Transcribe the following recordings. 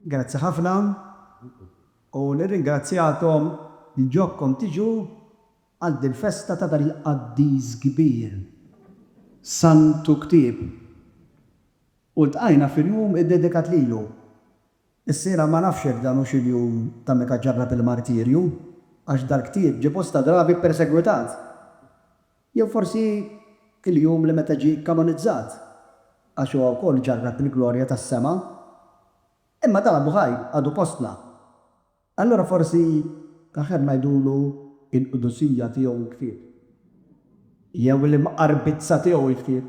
Grazzi ħafna u nirringrazzjakom. Jġobkom tiġu għal dil-festa ta' dan il-qaddis kbir, Santu Ktieb. U ltqajna fil-jum iddedikat lilu. Issira ma nafx jekk dan hux il-jum ta' meta ġarrab il-martirju, għax dal-ktieb ġie bosta drabi ppersegwitat. Jew forsi il-jum li meta ġie kkanonizzat, għax huwa wkoll ġarrab il-glorja tas-sema. Imma dan għadu ħaj, għadu fostna. Allura forsi l-aħjar ngħidulu l-qdusija tiegħu l-ktieb, jew l-imqarbizza tiegħu l-ktieb,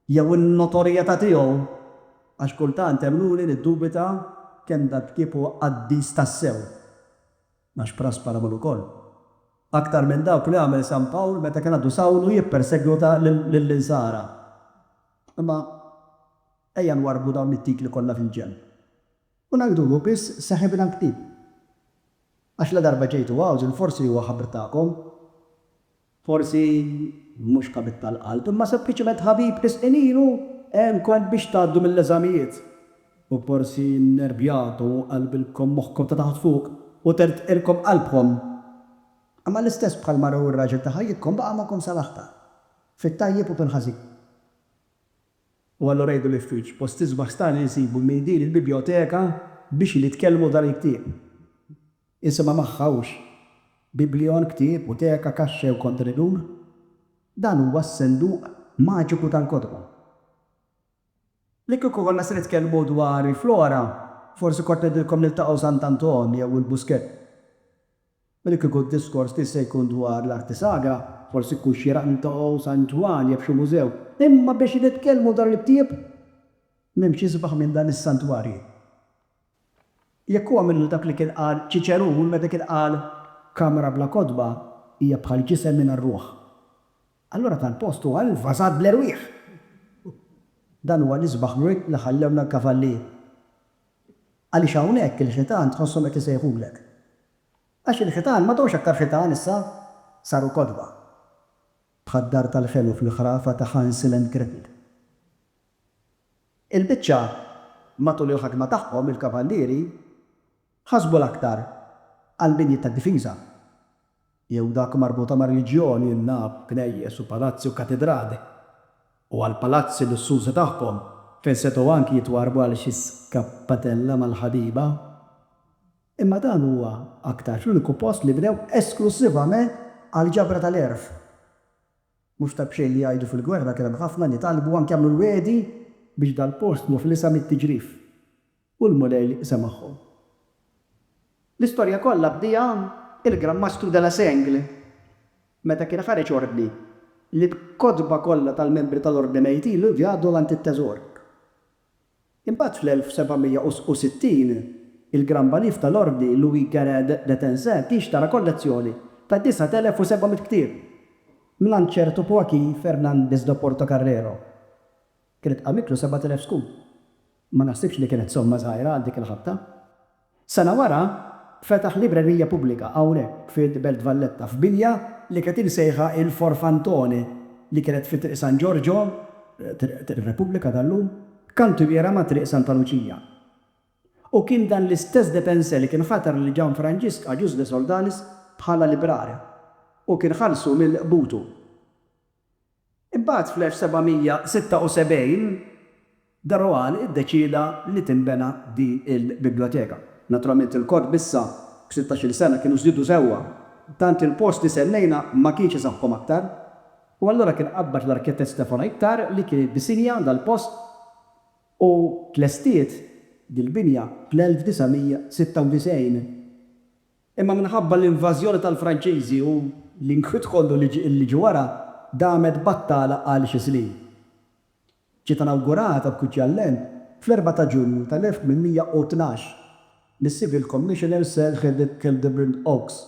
jew in-notorjetà tiegħu, għax kultant hemm luli li ddubita kemm dal-ktieb huwa qaddis tassew. Għax Prasper għamel ukoll aktar minn dawk li għamel San Pawl meta kien għadu Sawlu jippersegwita lill-Insara. Imma ejja nwarrbu dawn it-titli kollha fil-ġenb u ngħidu hu biss saħib il-ktieb. Għax ladarba ġejtu hawn, forsi huwa ħabr tagħkom. Forsi mhux ħabib tal-qalb, imma sempliċement ħabib ħisqien ilu għenkom biex tgħaddu mill-eżamijiet. U forsi nnervjatu u qalbilkom moħħkom ta' taħt fuq u tertqilkom qalbkom. Imma l-istess bħall-mara jew ir-raġel ta' ħajjitkom baqa' magħkom sal-aħħar, fit-tajjeb u fil-ħażin. U allura jgħidu li f'wiċċ post isbaħ stani nsibu minn din il-bibjoteka bixin jitkellmu dan il-ktieb. Issa ma magħhawx biblion, ktieb, buteka, kaxxa jew kontenitur. Dan huwa s-senduq maġiku tal-kotba. Li kieku konna se nitkellmu dwar il-flora, forsi kont ngħidilkom niltaqgħu Sant' Anton jew il-Buskett. U li kieku d-diskors tiegħi se jkun dwar l-arti sagra, forsi jkun xieraq niltaqgħu San Ġwann jew f'xi mużew. Imma biex nitkellmu dwar il-ktieb, m'hemmx isbaħ minn dan is-santwarji. Jekk huwa minnu dak li kien qal Ċiċerun meta kien qal, Kamra bla kotba hija bħal ġisem mingħajr ruħ, allura tal-post huwa invażat bl-erwieħ! Dan huwa l-isbaħ wirt li ħallewna l-Kavallieri. Għaliex hawnhekk il-ħitan tħosshom qed isejħulek. Għax il-ħitan m'għadhomx aktar ħitan issa, saru kotba. Bħad-dar tal-ħelu fil-ħrafa ta' Hansel and Gretel. Il-biċċa matul il-ħakma tagħhom il-kavallieri ħasbu l-aktar għall-binjiet tad-difiża, jew dak marbuta mar-reliġjon, in-nab, knejjes u palazzi u katidrali, u għall-palazzi lussużi tagħhom, fejn setgħu anki jitwarrbu għal xi skappatella mal-ħabiba, imma dan huwa aktarx l-uniku post li bnew esklussivament għall-ġabra tal-għerf. Mhux ta' b'xejn li jgħidu fil-gwerra kien hemm ħafna li talbu anke għamlu l-wegħdi biex dal-post muflisa mit-tiġrif u l-Mulej semagħhom. L-istorja kollha bdiha il-Gran Mastru de la Seigle meta kien ħareġ ordni li l-kotba kollha tal-membri tal-Ordni Mejjtin li vjadu għand it-teżor. Imbagħad fl-1760, il-Gran Balif ta l-Ordni Louis Guérin de Tencin tixtara kollezzjoni ta' 9,700 ktieb mingħand ċertu Joaquín Fernández de Portocarrero. Kienet qammitlu 7,000 skud. Ma naħsibx li kienet somma żgħira għal dik il-ħabta. Sena wara, fetaħ librerija pubblika hawnhekk fil-Belt Valletta, f'binja li kienet imsejħa il-Forfantone li kienet fi Triq San Ġorġo, Triq ir-Repubblika tal-lum, kantwiera ma' Triq Santa Luċija. U kien dan l-istess de Pensé li kien ħatar lil Gianfranġisk Agius de Soldanis bħala librarja u kien ħallsu mill-qbutu. Imbagħad fl-1776, de Rohan iddeċieda li tinbena din il-biblioteka. Naturalment il-kotb issa b'sittax-il sena kienu żdiedu sewwa, tant il-post li sennejna ma kienx isaħħhom aktar, u allura kien qabbad l-arkitett Stefano Ittar li kien iddisinja dal-post u tlestiet dil-binja fl-1996. Imma minħabba l-invażjoni tal-Franċiżi u l-inkwiet kollu li ġie wara, damet battala għal xi snin. Ġiet inawgurata uffiċjalment fl-erbgħa ta' Ġunju tal-1812 mis-Civil Commissioner Sir Hildebrand Oakes.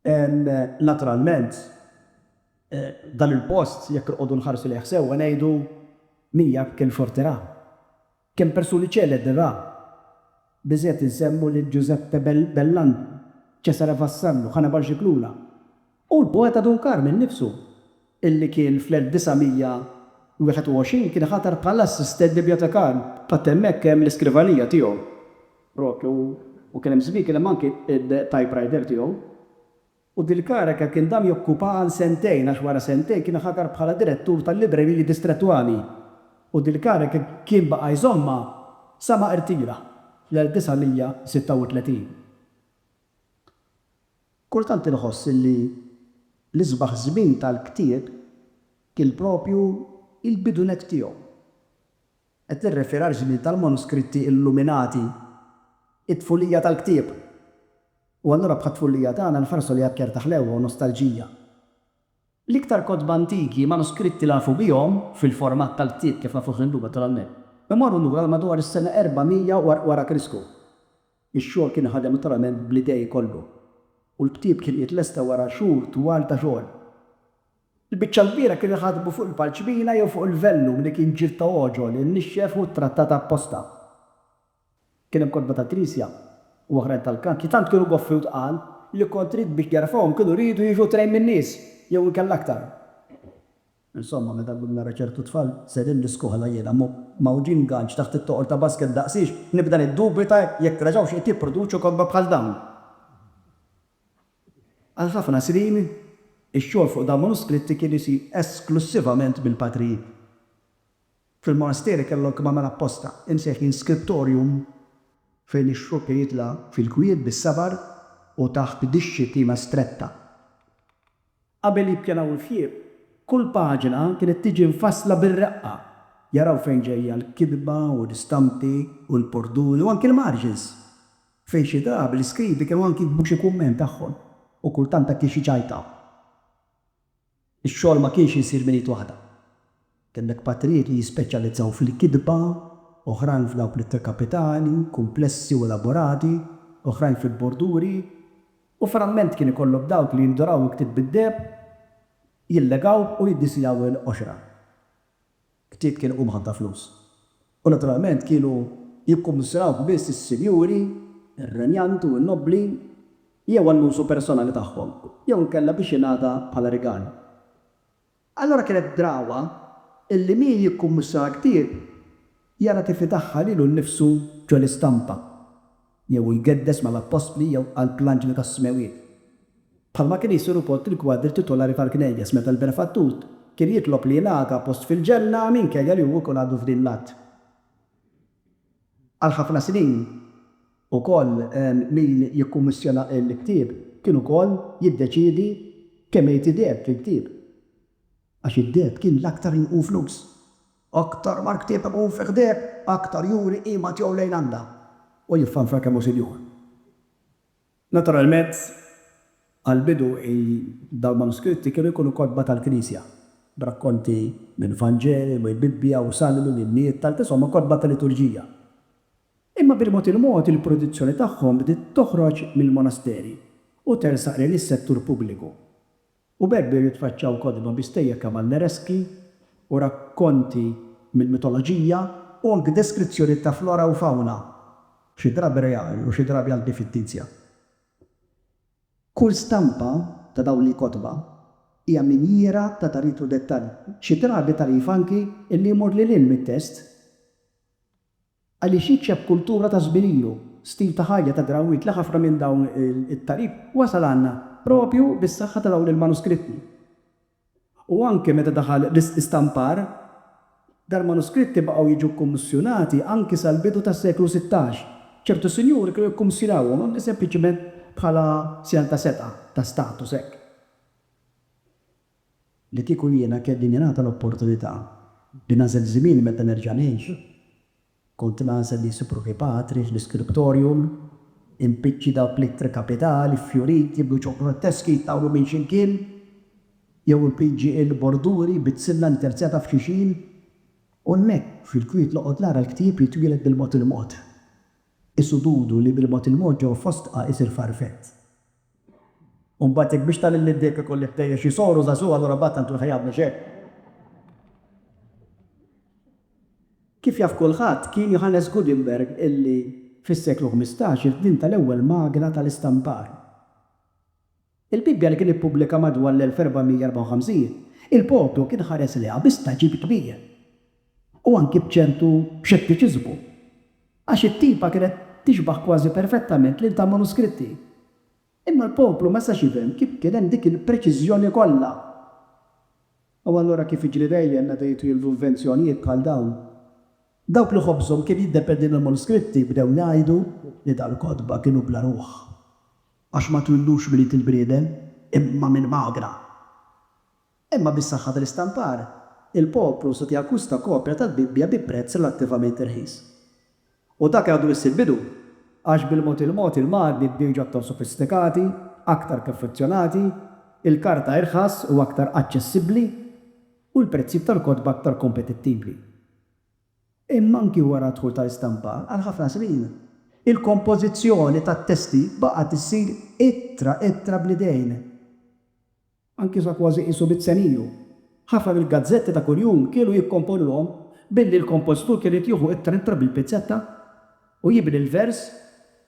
Naturalment, dan il-post, jekk noqogħdu nħarsu lejh sewwa, ngħidu mija b'kemm xorti ra. Kemm persuni ċelebri ra. Biżgħet insemmu lil Giuseppe Bellanti, Cesare Vassallo, Hannibal Scicluna u l-poeta Dun Karm innifsu. illi kien fl-1921 kien ħatar bħala assistent bibjotekarju. Għad hemmhekk hemm l-iskrivanija tiegħu propju u kien hemm żmien kien hemm anki t-typewriter tiegħu. U dil-kariga kien dam jokkupaha għal sentejn għax wara sentejn kien ħatar bħala direttur tal-libreriji distrettwali u dil-kariga kien baqa' jżommha sa ma irtira fl-1936. Kultant inħoss li l-isbaħ żmien tal-ktieb kien proprju l-bidu nett tiegħu. Qed nirreferi għaż-żmien tal-manuskritti illuminati, it-tfulija tal-ktieb. U allura bħat-tfulija tagħna nħarsu lejha b'ċerta ħlewwa u nostalġija. L-iktar kotba antiki, manuskritti li nafu bihom, fil-format tal-ktieb kif nafuh illum naturalment, imorru lura għal madwar is-sena 400 wara Krisku. Ix-xogħol kien inħadem interament bl-idej kollu u l-ktieb kien qiegħed lesta wara xhur twal ta' xogħol. Il-biċċa l-kbira kienu jħadmu fuq il-parċmina jew fuq il-vellum li kien ġild ta' għoġol imnixxef u ttrattat apposta. Kien hemm kotba tal-Knisja u oħrajn tal-kant li tant kienu goffi u tqal li kont rid biex jarfawhom kienu riedu jiġu trejn min-nies jew inkella aktar. Insomma, meta llum nara ċertu tfal sejrin l-iskola jiena mgħawġin ganċ taħt it-toqol ta' basket daqsiex, nibda niddubita jekk reġgħux qed jipproduċu kotba bħal dawn. Għal ħafna snin, ix-xogħol fuq dawn manuskritti kien isir esklussivament mill-patrijiet. Fil-monasteri kellhom kemm għamel apposta, imsejħin scriptorium, fejn ix-xogħol kien jitla' fil-kwiet bis-sabar u taħt dixxiplina stretta Qabel jippjanaw il-fjieb, kull paġna kienet tiġi mfassla bir-reqqa, jaraw fejn ġejja l-kitba u l-istampi u l-borduni u anki l-margins, fejn xi drabi l-iskribi kienu anki jiktbu xi kumment tagħhom u kultant anki xi ċajta. Ix-xogħol ma kienx isir minn id waħda. Kellek patrijiet li jispeċjalizzaw fil-kitba, oħrajn f'dawk l-ittra kapitali, kumplessi u elaborati, oħrajn fil-borduri, u framment kien ikollok dawk li jinduraw il-ktieb bid-deheb, jillegawh u jiddisinjaw il-qoxra. Ktieb kien iqum ħafna flus, u naturalment kienu jikkummissjonawh biss is-sinjuri, ir-renjant u n-nobbli, jew għall-użu personali tagħhom, jew inkella biex jingħata bħala rigal. Allura kienet drawwa illi min jikkummissja ktieb jara kif idaħħal lilu nnifsu ġo l-istampa, jew hu jgeddes mal-appostli jew qalb l-anġli tas-smewwiet. Bħalma kien isir ukoll fil-kwadri titolari tal-knejjes meta l-Benefattur kien jitlob li jingħata post fil-ġenna minkejja li hu jkun għadu f'din l-art għal ħafna snin. Ukoll, min jikkummissjona l-ktieb kien ukoll jiddeċiedi kemm irid ideheb fil-ktieb. Għax id-deheb kien l-aktar li jqum flus. Aktar ma l-ktieb iqum fih deheb, aktar juri qima tiegħu lejn Alla u jiffanfar kemm hu sinjur. Naturalment, għall-bidu dawn il-manuskritti kienu jkunu kotba tal-Knisja, b'rakkonti minn Vanġeli, mill-Bibbja u salmi, l-innijiet tal-Qiswa ma' kotba tal-liturġija. Imma bil-mod il-mod il-produzzjoni tagħhom bdiet toħroġ mill-monasteri u tersaq lejn is-settur pubbliku. U b'hekk bdew jitfaċċaw kotba bi stejjer kavallereski u rakkonti mill-mitoloġija, u anki deskrizzjonijiet ta' flora u fawna, xi drabi reali u xi drabi anki fittizja. Kull stampa ta' dawn il-kotba hija minjiera ta' tagħrif u dettall, xi drabi tagħrif anki li jmur lil hinn mit-test. Għaliex jiċċeb kultura ta' żmien ilu, stil ta' ħajja ta' drawwiet li ħafna minn dawn it-tagħrif wasal għandna proprju bis-saħħa ta' dawn il-manuskritti. U anke meta daħal l-istampar, dal-manuskritti baqgħu jiġu kkumissjonati anki sal-bidu tas-seklu sittax. Ċertu sinjuri kienu jikkumissjonawhom anki sempliċiment bħala sinjal ta' setgħa, ta' status hekk. Li kieku jiena kelli ningħata l-opportunità li nagħżel żmieni meta nerġa' ngħix, kont nagħżel li nsib ruħi patri fl-iskriptorium, impiċċi dawn l-ittri kapitali ffjuriti b'luċon grotteschi jtawlu minn x'imkien, jew impiġġi il-borduri bit-tsilla interzjata f'xixin, u hemmhekk, fil-kwiet noqgħod nara l-ktieb jitwieled bil-mod il-mod, qisu dudu li bil-mod il-mod ġewwa fostqa isir farfett. U mbagħad jekk biex ta' lil id-deheb ikolli ħtejjeġ isoru żagħżugħ allura mbagħad tant hu l-ħajat mhux hekk? Kif jaf kulħadd, kien Johannes Gutenberg illi fis-seklu ħmistax ivvinta l-ewwel magna tal-istampar. Il-Bibbja li kien ippubblika madwar l-1454, il-poplu kien ħares lejha bi stagħġib kbir. u anki b'ċertu xettiċiżmu, għax it-tipa kienet tixbaħ kważi perfettament lil ta' manuskritti. Imma l-poplu ma setax jifhem kif kien hemm dik il-preċiżjoni kollha. U allura kif jiġri dejjem meta jidħlu l-invenzjonijiet bħal dawn, dawk li ħobżhom kien jiddependi mill-manuskritti bdew jgħidu li dal-kotba kienu bla ruħ, għax ma twildux minn id il-bniedem imma minn magra. Imma bis-saħħa tal-istampar, il-poplu seta' jakkwista kopja tal-Bibbja bi prezz relattivament irħis. U dak għadu biss il-bidu, għax bil-mod il-mod il-magni bdewġu aktar sofistikati, aktar perfezzjonati, il-karta irħas u aktar aċċessibbli, u l-prezzijiet tal-kotba aktar kompetittivi. Imma anki wara d-dħul tal-istampar, għal ħafna snin, il-kompożizzjoni tat-testi baqgħet issir ittra ittra bl-idejn. anki sa kważi qisu mit-tseniju. Ħafna mill-gazzetti ta' kuljum kienu jikkomponuhom billi l-kompożitur kien irid jieħu ittra ittra bil-pizzetta u jibni l-vers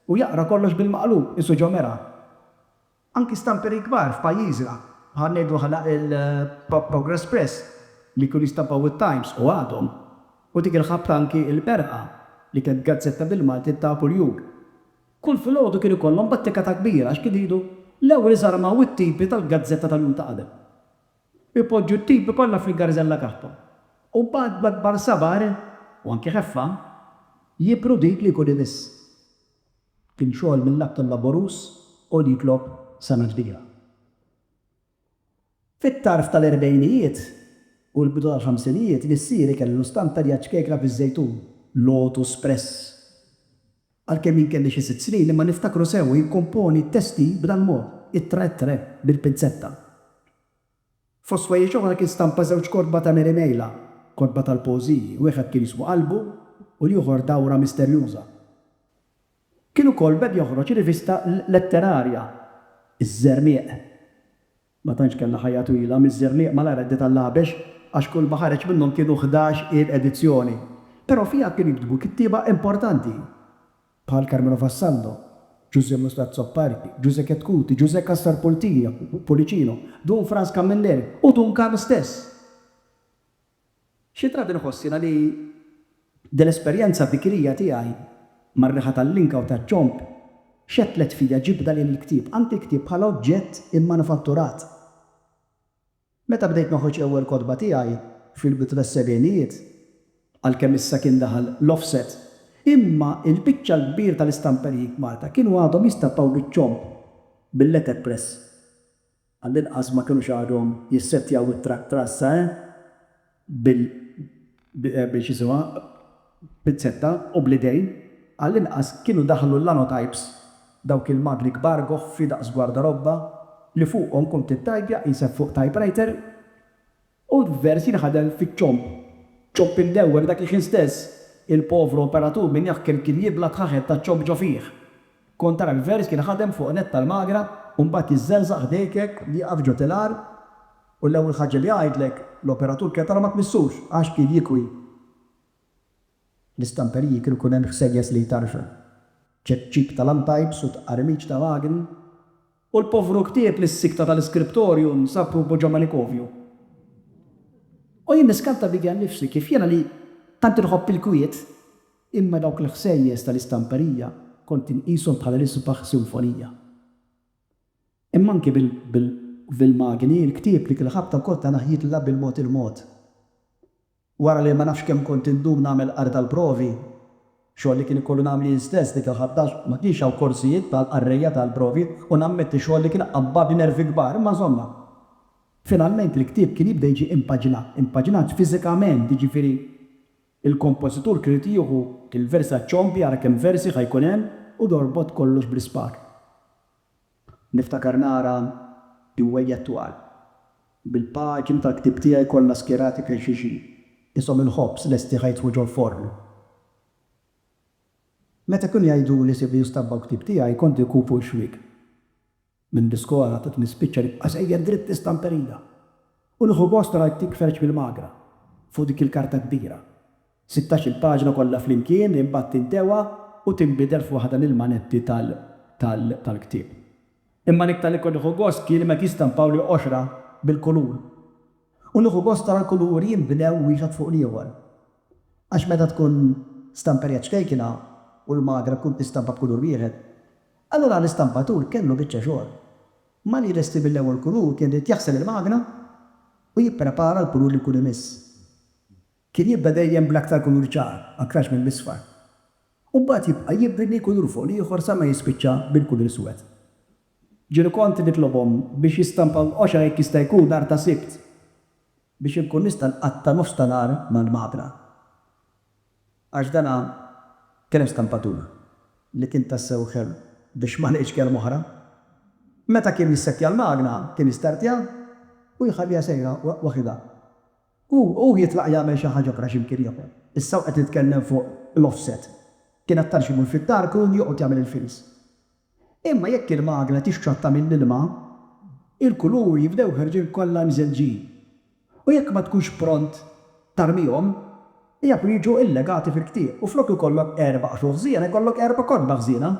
u jaqra kollox bil-maqlub qisu ġomera. Anki stamperi kbar f'pajjiżna, bħal ngħidu aħna il-Progress Press li kienu jistampaw it-Times u għadhom, u dik il-ħabta anki Il-Berħa li kienet gazzetta bil-Malti ta' kuljum. Kull filgħodu kien ikollhom battikata kbira għax kien idu l-ewwel iżarmaw it-tipi tal-gazzetta tal-jum ta' qabel. Ipoġġu t-tipi kollha fil-garżella tagħhom u mbagħad b'akbar sabar, u anki ħeffa, jibru dik li jkun imiss. Kien xogħol mill-aktar laboruż u li jitlob sengħa kbira. Fit-tarf tal-erbgħinijiet u l-bidu tal-ħamsinijiet missieri kellu stand tal-jaċċkekra fiż-żejtun, Lotus Press. Għalkemm jien kelli xi sitt snin, imma niftakru sew u jikkomponi t-testi b'dal-mod, Ittra et Re, bil-pinzetta. Fost ħwejjeġ oħra kien stampa żewġ kotba ta' Mary Mejla, kotba tal-poeżiji, wieħed kien jismu Qalbu u l-ieħor Dawra Misterjuża. Kien ukoll beda joħroġ rivista letterarja, Iż-Żermieq. Ma tantx kellha ħajja twila, miż-Żerniq malajr għaddiet għall-Għabex għax kull ma ħareġ minnhom kienu ħdax il edizzjoni. Però fiha kienu jiktbu kittieba importanti bħal Carmelo Vassallo, Ġużè Musli Azzopardi, Ġużè Chetcuti, Ġużè Cassar Pultija, Pulicino, Dun Frans Camilleri u Dun Karl stess. Xi drabi nħoss jiena li din l-esperjenza bikrija tiegħi mar-riħa tal-linka u taċ-ċomb xettlet fija ġibda lejn il-ktieb, anki l-ktieb bħala oġġett immanufatturat. Meta bdejt noħroġ l-ewwel kotba tiegħi, fil-bidu tas-sebgħinijiet, għalkemm issa kien daħal l-offset, imma l-biċċa l-kbira tal-istamperijiet Malta kienu għadhom jistampaw biċ-ċomb, bil-letterpress. Għall-inqas ma kinux għadhom jissettjaw it-truck trassa eh bil bil x'jisimha pinzetta u bl-idejn, għall-inqas kienu daħlu l-lanotypes, dawk il-magni kbar goħfi daqs gwardarobba li fuqhom kont ittajpja qisek fuq typewriter. U l-vers jinħadem fiċ-ċomb. Ċomb imdewwer dak il-ħin stess. Il-povru operatur minn jaħkem kien jibla' t-ħaħel taċ-ċomb ġo fih. Kont tara l-vers jinħadem fuq netta l-magra u mbagħad jiżżerżaq ħdejk hekk li jieqaf ġo tilar u l-ewwel ħaġa li jgħidlek l-operatur kienet ara ma tmissux għax kien jikwi. L-istamperiji kienu jkun hemm ħsejjes li jtarrxu. Ċekċik ta' lamtajps u tqarmiċ ta' magni. U l-povru ktieb lis-sikta tal-iskriptorju nsab ruħu ġo manikovju. U jien niskanta bidja nnifsi, kif jiena li tant inħobb il-kwiet, imma dawk l-ħsejjes tal-istamperija kont inqishom bħala l-isbaħ sinfonija. Imma anki bil-magni, il-ktieb li kien ħabta wkoll ta' naħjitla bil-mod il-mod. Wara li ma nafx kemm kont indum nagħmel qari tal-provi, xogħol li kien ikollu nagħmel jien stess dik il-ħaddax, ma kienx hawn korsijiet tal-qarrejja tal-provi u nammetti xogħol li kien qabbadni nervi kbar, imma żomma. Finalment il-ktieb kien jibda jiġi impaġinat, impaġinat fiżikament, jiġifieri il-kompożitur kien irid jieħu il-versi għaċ-ċompi, ara kemm versi ħa jkun hemm, u jorbot kollox bl-ispar. Niftakar nara iwwejjed twal, bil-paġni tal-ktieb tiegħi kollha skjerati fejn xi xi, qishom il-ħobż lesti ħa jidħlu ġol-forn. Meta kienu jgħiduli sibli u stabbaw ktieb tiegħi, kont inkun fuq ix-xwiek. Minn l-iskola tat nispiċċa nibqa' sejjer dritt fl-istamperija u nieħu gost nara l-ktieb ħreġ mill-magra fuq dik il-karta kbira Sittax-il paġna kollha flimkien imbagħad tintewa u tinbidel f'waħda mill-manetti tal-ktieb. Imma l-iktar li kont nieħu gost kien meta jistampawli qoxra bil-kulur. U nieħu gost ara l-kuluri jinbnew wieħed fuq l-ieħor. Għax meta tkun stamperija ċkejkna u l-magra tkun tistampa b'kulur wieħed, allura l-istampatur kellu biċċa xogħol. Malli jlesti mill-ewwel kulur kien irid jaħsel il-magna u jipprepara l-kulur li jkun imiss. Kien jibda dejjem bl-aktar kulur ċar, aktarx mill-isfar. U mbagħad jibqa' jibni kulur fuq l-ieħor sa ma jispiċċa bil-kulur iswed. Ġieli kont nitlobhom biex jistampaw l-qosha jekk jista' jkun nhar ta' Sibt biex inkun nista' nqatta' nofs ta' nhar mal-mabna. Għax dana kien hemm stampatur li kien tassew ħelu biex ma ngħidx kelma oħra. Meta kien jissettja l-magna kien jistartja u jħalliha sejra waħidha. Hu hu jitlaq jagħmel xi ħaġa oħra x'imkien ieħor. Issa hu qed jitkellem fuq l-offset. Kien aktar xi jmur fid-dark u joqgħod jagħmel il-fils. Imma jekk il-magna tixxotta mill-ilma, il-kuluri jibdew ħerġin kollha mżelġin. U jekk ma tkunx pront tarmihom, jafu jiġu illegati fil-ktieb u flok ikollok erba' qxuħ żiena jkollok erba' kotba ħżiena.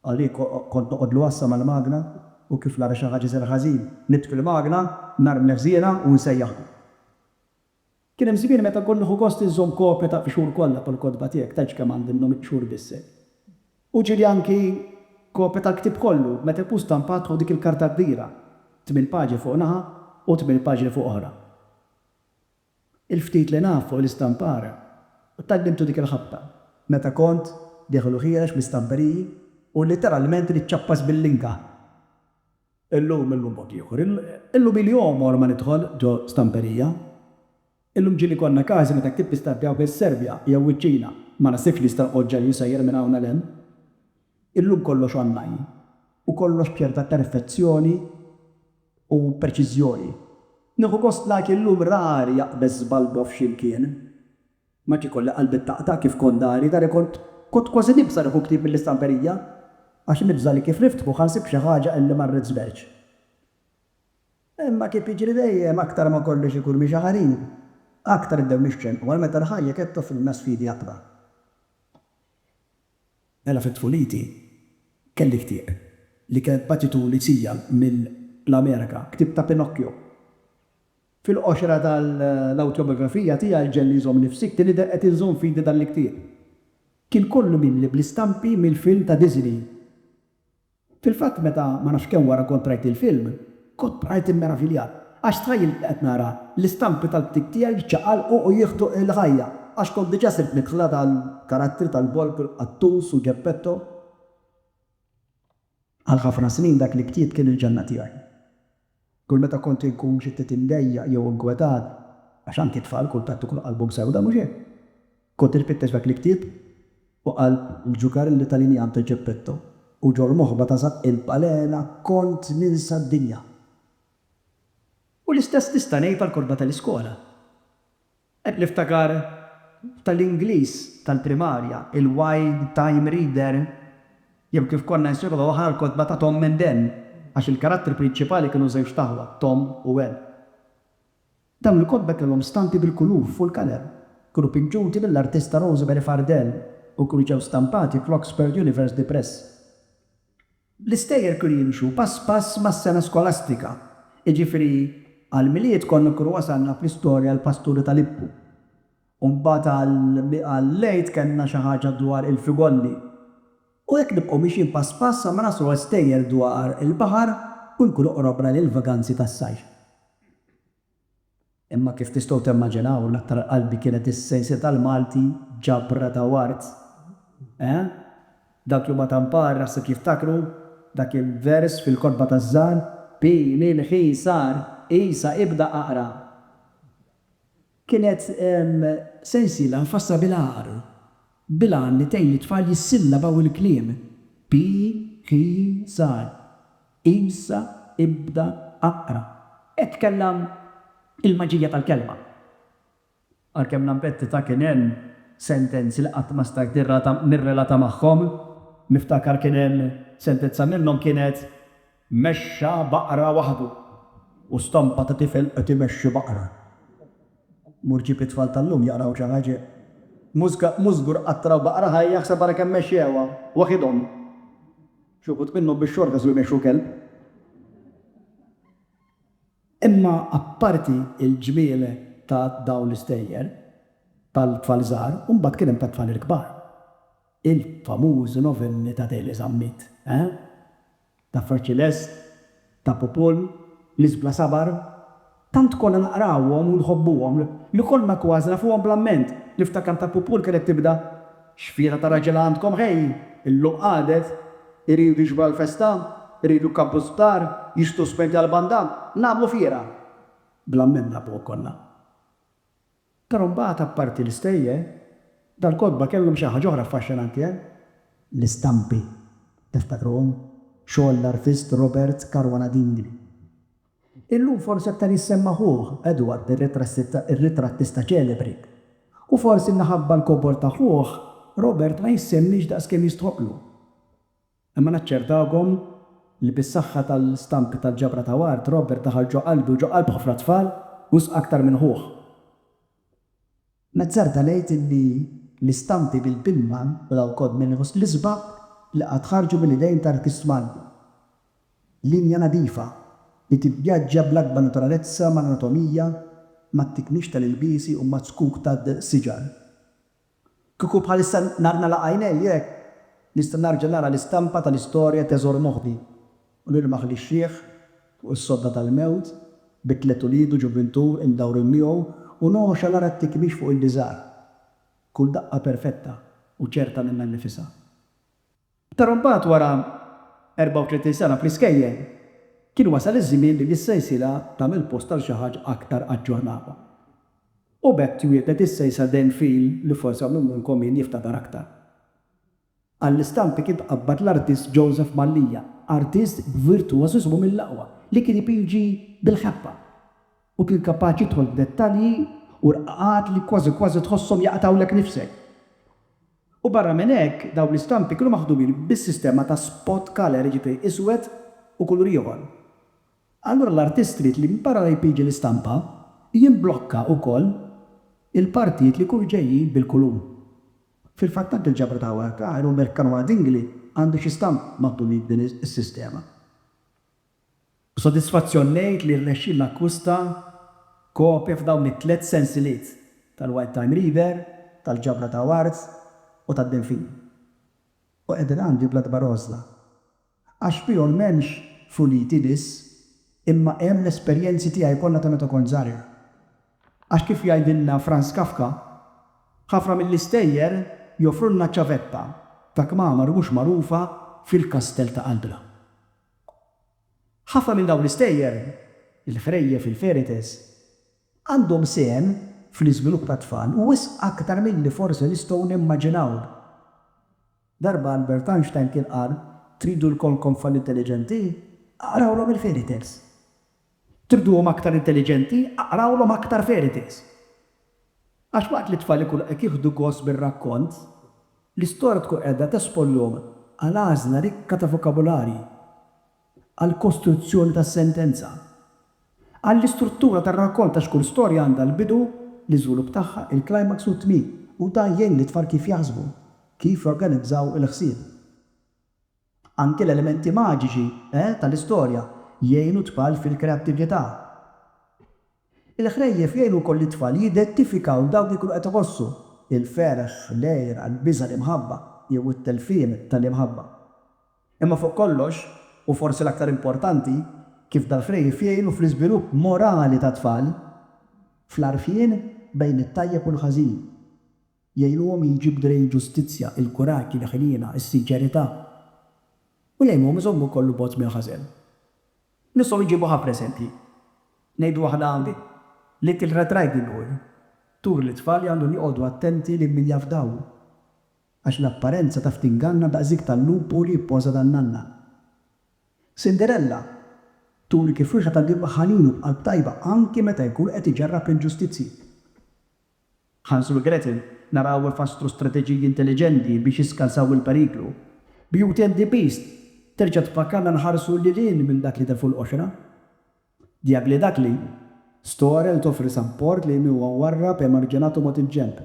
Għalik kont noqgħodlu għassa mal-magna u kif nara xi ħaġa iżgħar ħażin, nitfi l-magna, nhar mnefżielha u nsejjaħlu. Kien hemm żmien meta kont nieħu gost inżomm kopja tal-qxur kollha tal-kotba tiegħek, tgħidx kemm għandi minnhom il-qxur b'isem. U ġieli anki kopja tal-ktieb kollu, meta jkun stampat fuq dik il-karta kbira, tmien paġni fuq naħa u tmien paġni fuq oħra. Il-ftit li naf fuq l-istampar, u tgħallimtu dik il-ħabta meta kont dieħel u ħiereġ bl-istamperiji, hu litteralment li ċċappas bil-linga. Illum, illum mod ieħor. Illum ili għomor ma nidħol ġo stamperija. Illum ġieli konna każi meta ktibt l-istampi hawn fis-Serbja jew wiċ-Ċina, ma naħsibx li nista' noqgħod ġenju sejjer minn hawn għal hemm. Illum kollox online u kollox b'ċerta perfezzjoni u preċiżjoni. Nieħu gost like illum rari aqbeż żbalbo f'xi mkien. Ma nafx ikolli qalbi taqta' kif kont dari dari kont kont kważi nibża' nieħu ktieb mill-istamperija għax nibża' li kif niftħu ħa nsib xi ħaġa illi ma rridx żmerċ. Imma kif jiġri dejjem aktar ma kolli xi kurmi xaħarin aktar nibdew nixxenqu għal meta l-ħajja qed toffrilna sfidi akbar. Mela fi tfuliti kelli ktieb li kien bagħtitu Lucia mill-Amerika, ktieb ta' Pinocchio. Fil-qoxra tal-awtjobjografija tiegħi Ġenni Żommni F'Sikti nidher qed inżomm f'idi dan il-ktieb. Kien kollu mimli bl-istampi mill-film ta' Disney. Fil-fatt meta ma nafx kemm wara kont rajt il-film, kont bqajt immeraviljat għax tħajjilt li qed nara l-istampi tal-ktieb tiegħi jiċċaqalqu u jieħdu l-ħajja għax kont diġà sirt nidħla tal-karattri tal-Volpe, il-Qattus u Geppetto. Għal ħafna snin dak li ktibt kien il-ġenna tiegħi. Kull meta kont inkun xi ftit imdejjaq jew inkwetat, għax anki t-tfal kultant ikunu qalbhom sewda, mhux hekk? kont infittex dak l-ktieb u qalb il-ġuker li tagħlini Anto Geppetto, u ġol moħba ta' San il-Balena kont ninsa d-dinja. U l-istess nista' ngħid għall-kotba tal-iskola. Qed niftakar tal-Ingliż tal-primarja, il-Wild Time Reader, jew kif konna nsiruha l-kotba ta' Tom and Ann, għax il-karattri prinċipali kienu żewġt aħwa, Tom u Ann. Dawn il-kotba kellhom stampi bil-kulur fuq il-kaler, kienu pinġuti mill-artista Rosemary Fardell u kienu ġew stampati fl-Oxford University Press. L-istejjer kienu jimxu pass pass mas-sena skolastika, jiġifieri għall-Milied konna nkunu wasalna fl-istorja għall-Pasturi ta' Lippu, u mbagħad għall-Għid kellna xi ħaġa dwar il-Figolli, u hekk nibqgħu mixjin pass pass sa ma naslu għal stejjer dwar il-baħar u nkunu qrobna lill-vaganzi tas-sajf. Imma kif tistgħu temmaġinaw, l-aktar qalbi kienet is-sensiela tal-Malti, ġabra ta' ward. Eħe. Dawk li huma ta' Mpar naħseb jiftakru dak il-vers fil-kotba taż-żgħar, Pini l-ħisar, qisha ibda aqra. Kienet sensiela mfassla bil-għar, bil-għan li tgħin lit-tfal jissillabaw il-kliem, pi, hi, sar. Issa ibda aqra. Hekk kellha l-maġija tal-kelma. Għalkemm Lamberti ta kien hemm sentenzi li qatt ma stajt nirrata nirrelata magħhom, niftakar kien hemm sentenza minnhom kienet, Mexxa baqra waħdu u stampa ta' tifel qed imexxi baqra. Mur ġib it-tfal tal-lum jaqraw xi ħaġa. Mhux żgur qatt raw baqra ħajja ħseb ara kemm mexxewha waħidhom. Xi wħud minnhom bix-xorta su jmexxu kelb. Imma apparti l-ġmiel ta' dawn l-istejjer tal-tfal żgħar, imbagħad kien hemm tat-tfal il-kbar. Il-famużi novelli ta' Deli Zammit, eh? Ta' Fra Ċilest, Ta' popol, nies bla sabar, tant konna naqrawhom u nħobbuhom li konna kważi nafuhom bl-amment. Niftakar Ta' popol kienet tibda, X'fiera ta' raġel għandkom ħej, illum qagħdet, iridu jiġbru għall-festa, iridu jkabbru sptar, jixtru spenti għall-banda, nagħmlu fiera. Bl-amment nafuhom konna. Però mbagħad apparti l-istejjer, dal-kotba kellhom xi ħaġa oħra affaxxinanti hemm. L-istampi, tiftakruhom? Xogħol l-artist Robert Caruana Dingli. Illum forsi aktar jissemma ħuh, Edward, ir-ritrattista ċelebri. U forsi minħabba l-kobor ta' ħuh, Robert ma jissemmiex daqskemm jistħoqqlu. Imma naċċertawkom li bis-saħħa tal-stampi tal-ġabra ta' Ward, Robert daħal ġo qalbi u ġo qalb ħafna tfal, wisq aktar minn ħuh. Nazzarda ngħid li l-istampi bil-bilma u dawk kod mill-inqos l-isbaħ li qatt ħarġu mill-idejn ta' artist Malti. Linja nadifa, li tivvjaġġa bl-akbar naturalezza mal-anatomija, mat-tiknix tal-ilbiesi u maz-zkuk tad-siġar. Kieku bħalissa nar nagħlaq għajnejja hekk, nista' nerġa' nara l-istampa tal-istorja teżor moħħi u nilmaħ lix-xiħ fuq is-sodda tal-mewt bi tliet ulied u ġuvintu imdawrin miegħu u nogħxa nara t-tikmix fuq il-biżar, kull daqqa perfetta u ċerta minnha nnifisha. Però mbagħad wara 34 sena fl-iskejjel, kien wasal iż-żmien li l-sejsila tagħmel post għal xi ħaġa aktar aġġornata. U b'hekk twieldet is-sejsla Dan Feel li forsi hawn min minnkom min jiftakar aktar. Għall-istampi kien tqabbad l-artist Joseph Mallia, artist b'virtuożiżmu mill-aqwa, li kien ipiġi bil-ħeffa u kien kapaċi jidħol f'dettalji u rqaqat li kważi kważi tħosshom jaqtgħulek nifsek. U barra minn hekk, dawn l-istampi kienu maħdumin bis-sistema ta' spot color, jiġifieri iswed u kulur ieħor. Allura l-artist ried li barra li jpiġi l-istampa, jimblokka wkoll il-partijiet li jkunu ġejjin bil-kulur. Fil-fatt anke l-ġabra ta' Howard Carr u Merck Canoa Dingli għandu xi stampi maħdumin b'din is-sistema. B'sodisfazzjon ngħid li rnexxielna akkwista kopja f'dawn it-tliet sensiliet tal-Wild Time Reader, tal-Ġabra ta' Awards u tad-Denfin. U qiegħdin għandi bla dbar għożża. Għax fihom m'hemmx funiti biss, imma hemm l-esperjenzi tiegħi kollha ta' meta kont żgħir. Għax kif jgħidilna Franz Kafka, ħafna mill-istejjer joffrulna ċavetta ta' kmamar mhux magħrufa fil-kastell ta' qalbna. Ħafna minn dawn l-istejjer, il-ħrejjef, il-ferites, għandhom sehem fl-iżvilupp tat-tfal u wisq aktar milli forsi nistgħu nimmaġinaw. Darba Albert Einstein kien qal, Tridu lkoll tfal intelliġenti? Aqrawlhom il-fairy tales. Triduhom aktar intelliġenti? Aqrawlhom aktar fairy tales. Għax waqt li t-tfal ikunu qed jieħdu gost bir-rakkont, l-istorja tkun qiegħda tesponhom għal għażla rikka ta' vokabularji, għall-kostruzzjoni tas-sentenza, għall-istruttura tar-rakkont għax kull storja għandha l-bidu, l-iżvilupp tagħha, il-climax u t-tmiem u dan jgħin lit-tfal kif jaħsbu, kif jorganizzaw il-ħsieb. Anki l-elementi maġiċi, eh, tal-istorja jgħinu t-tfal fil-kreattività. Il-ħrejjef jgħinu wkoll lit-tfal jidentifikaw dawk li jkunu qed iħossu, il-ferħ, l-għira, l-biża', l-imħabba, jew it-telfien tal-imħabba. Imma fuq kollox, u forsi l-aktar importanti, kif dal-ħrejjef jgħinu fl-iżvilupp morali tat-tfal, fl-għarfien bejn it-tajjeb u l-ħażin. Jgħinuhom jiġi b'drej il-ġustizzja, il-kuraġġ, il-ħniena, is-sinċerità. U jgħinuhom iżommu kollu bogħod mill-ħażen. Nistgħu nġibu ħafna eżempji. Ngħidu waħda hawn, Little Red Riding Hood turi li t-tfal għandhom joqogħdu attenti lil min jafdaw, għax l-apparenza taf tinganna daqs dik tal-lupu li jippoża dan-nanna. Cinderella turi kif wieħed għandu jibqa' ħanin u b'qalb tajba anki meta jkun qed iġarrab l-inġustizzji. Hansel u Gretel naraw ifasslu strateġiji intelliġenti biex jiskansaw il-periklu. Beauty and the Beast terġa' tfakkarna nħarsu lil hinn minn dak li der fuq l-qoxra. The Ugly Duckling Storel toffri sapport lejn min huwa mwarrab, emarġinat u mogħti ġenb.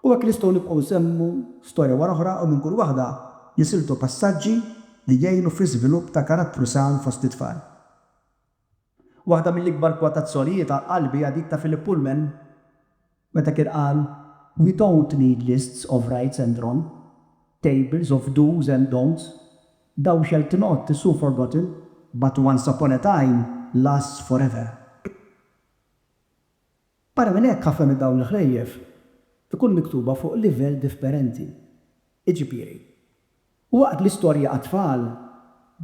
U hekk nistgħu nibqgħu nsemmu storja wara oħra u minn kull waħda jisiltu passaġġi li jgħinu fl-iżvilupp ta' karattru san fost it-tfal. Waħda mill-ikbar kwotazzjonijiet għal qalbi hija dik ta' Philip Pullman meta kien qal, We don't need lists of rights and wrong, tables of do's and don'ts, thou shalt not is so forgotten, but once upon a time lasts forever. Barra minn hekk ħafna minn dawn il-ħlejjef ikunu miktuba fuq livell diffperenti. Iġifieri, Waqt l-istorja għat-tfal,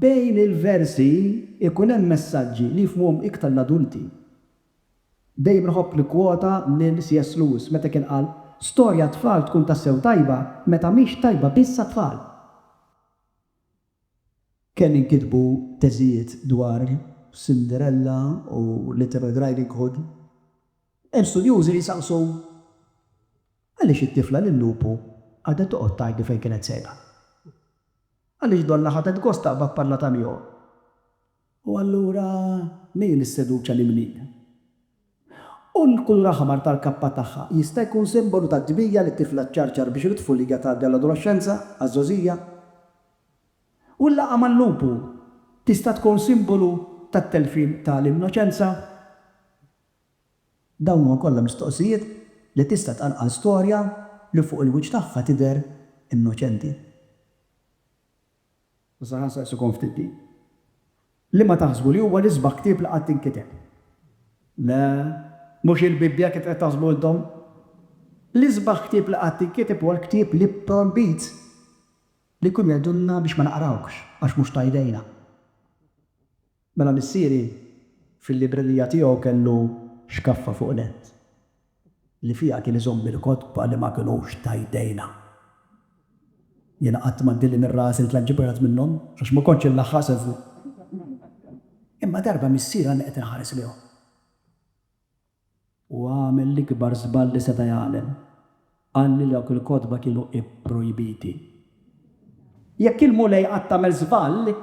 bejn il-versi jkun hemm messaġġi li jifhmuhom iktar l-adulti. Dejjem inħobb nikkwota lil C.S. Lewis meta kien qal, Storja għat-tfal tkun tassew tajba meta mhix tajba biss għat-tfal. Kemm inkitbu teżijiet dwar Cinderella u Little Red Riding Hood, hemm studjużi li jsaqsu, Għaliex it-tifla lil-lupu qagħdet toqgħod tgħajtlu fejn kienet sejra? Għaliex donnha ħadet gost taqbad pallata miegħu? U allura min isseduċa l-imnija? U l-kulur aħmar tal-kappa tagħha jista' jkun simbolu tat-tbija li t-tifla ċċarċar biex mit-tfulija tgħaddi għall-adolexxenza, għaż-żgħożija? U l-laqgħa mal-lupu tista' tkun simbolu tat-telfien ta' l-innoċenza? Dawn huma kollha mistoqsijiet li tista' tqanqal storja li fuq il-wiċċ tagħha tidher innoċenti. Issa ħa nsaqsikom ftit din. Liema taħsbu li huwa l-isbaħ ktieb li qatt inkiteb? Le, mhux hi l-Bibbja kif qed taħsbu intom. L-isbaħ ktieb li qatt inkiteb huwa l-ktieb li pprojbit li jkunu jgħidulna biex ma naqrawhx għax mhux ta' idejna. Mela missieri fil-librerija tiegħu kellu xkaffa fuq nett li fiha kien iżomm il-kotba li ma kinux ta' jdejna. Jiena qatt ma ndilli minn rasi li tlant ġibgħat minnhom għax ma kontx inlaħħaq sew fuqhom. Imma darba missieri għadni qed inħares lejhom. U għamel l-ikbar żball li seta' jagħmel. Qal li dawk il-kotba kienu pprojbiti. Jekk il-Mulej qatt għamel żball,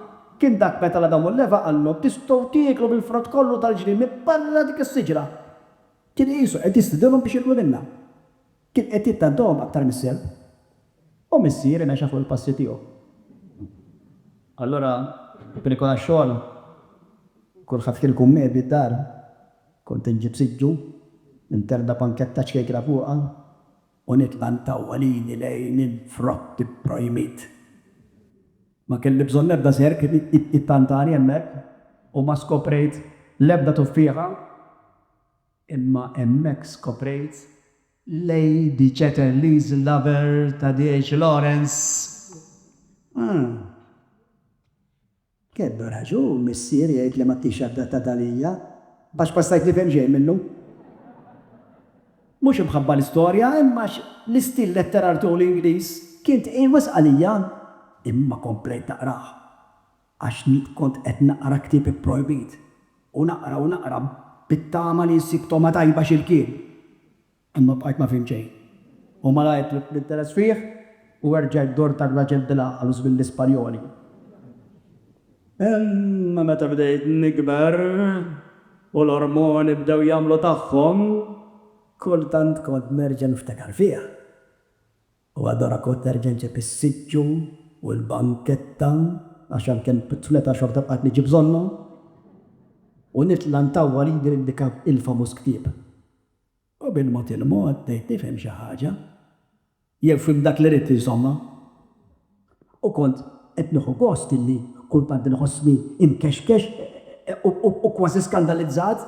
kien dak meta 'l Adam u 'l Eva qallhom, Tistgħu tieklu mill-frott kollu tal-ġnien minn barra dik is-siġra. Kien qisu qed jistiedinhom biex jieklu minnha. Kien qed jittantahom aktar mis-serp, u missier imexxa fuq il-passi tiegħu. Allura kien ikun għax-xogħol, kulħadd kien ikun mgħebi d-dar, kont inġib siġġu, ninterda panketta ċkejkna fuqha, u nitla' ntawwalini lejn il-frott ipprojmit. Ma kelli bżonn l-ebda serp jittantani hemmhekk, u ma skoprejt l-ebda tuffieħa. Imma hemmhekk skoprejt Lady Chatterley's Lover ta' D.H. Lawrence. Ah! Kellu raġun missieri jgħid li m'għadtix adattata għalija, għax ma stajt nifhem xejn minnu. Mhux imħabba l-istorja, imma għax l-istil letterar tiegħu l-Ingliż kien tqil wisq għalija. Imma komplejt naqrah. għax nit kont qed naqra ktieb ipprojbit, u naqra u naqra bit-tama li nsib togħma tajba x'imkien. Imma bqajt ma fhimt xejn. U malajr tlift l-interess fih u erġajt dort għar-raġel bil-għaqal u żmien l-Ispanjoli. Imma meta bdejt nikber u l-ormoni bdew jagħmlu tagħhom, kultant kont nerġa' niftakar fih. U adoraco terġenġe bis-siġġu u l-banketta għax għalkemm tfleta xorta bqajt niġi bżonnhom u nitla' ntawwal idi lil dik il-famuż ktieb. U bil-mod il-mod bdejt nifhem xi ħaġa, jew fhimt dak li ridt insomma. U kont qed nieħu gost illi kultant inħossni imkexkex u kważi skandalizzat.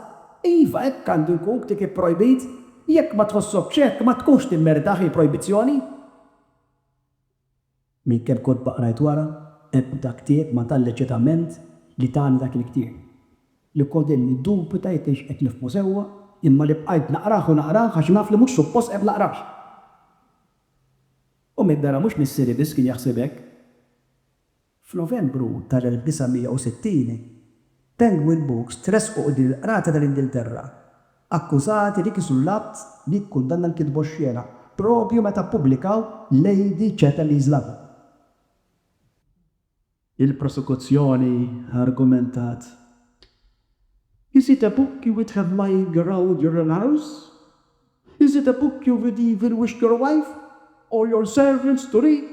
Iva, hekk għandu jkun, ktieb ipprojbit. Jekk ma tħossokx hekk, ma tkunx timmeritaħ, hi projbizzjoni. Minn kemm kotba qrajt wara, ebda ktieb ma tani l-eċitament li tani dak il-ktieb. Li kont qed niddubita jekk kienx qed nifhmu sewwa, imma li bqajt naqrah u naqrah għax naf li mhux suppost qed naqrah. U min dara mhux missieri biss kien jaħseb hekk. F'Novembru tal-1960, Penguin Books tressqu quddiem il-Qrati tal-Ingilterra, akkużati li kisru l-Att li jikkundanna l-kitba oxxena, proprju meta ppubblikaw Lady Chatterley's Lover. Il-prosekuzzjoni argumentat, Is it a book you would have lying around your own house? Is it a book you would even wish your wife or your servants to read?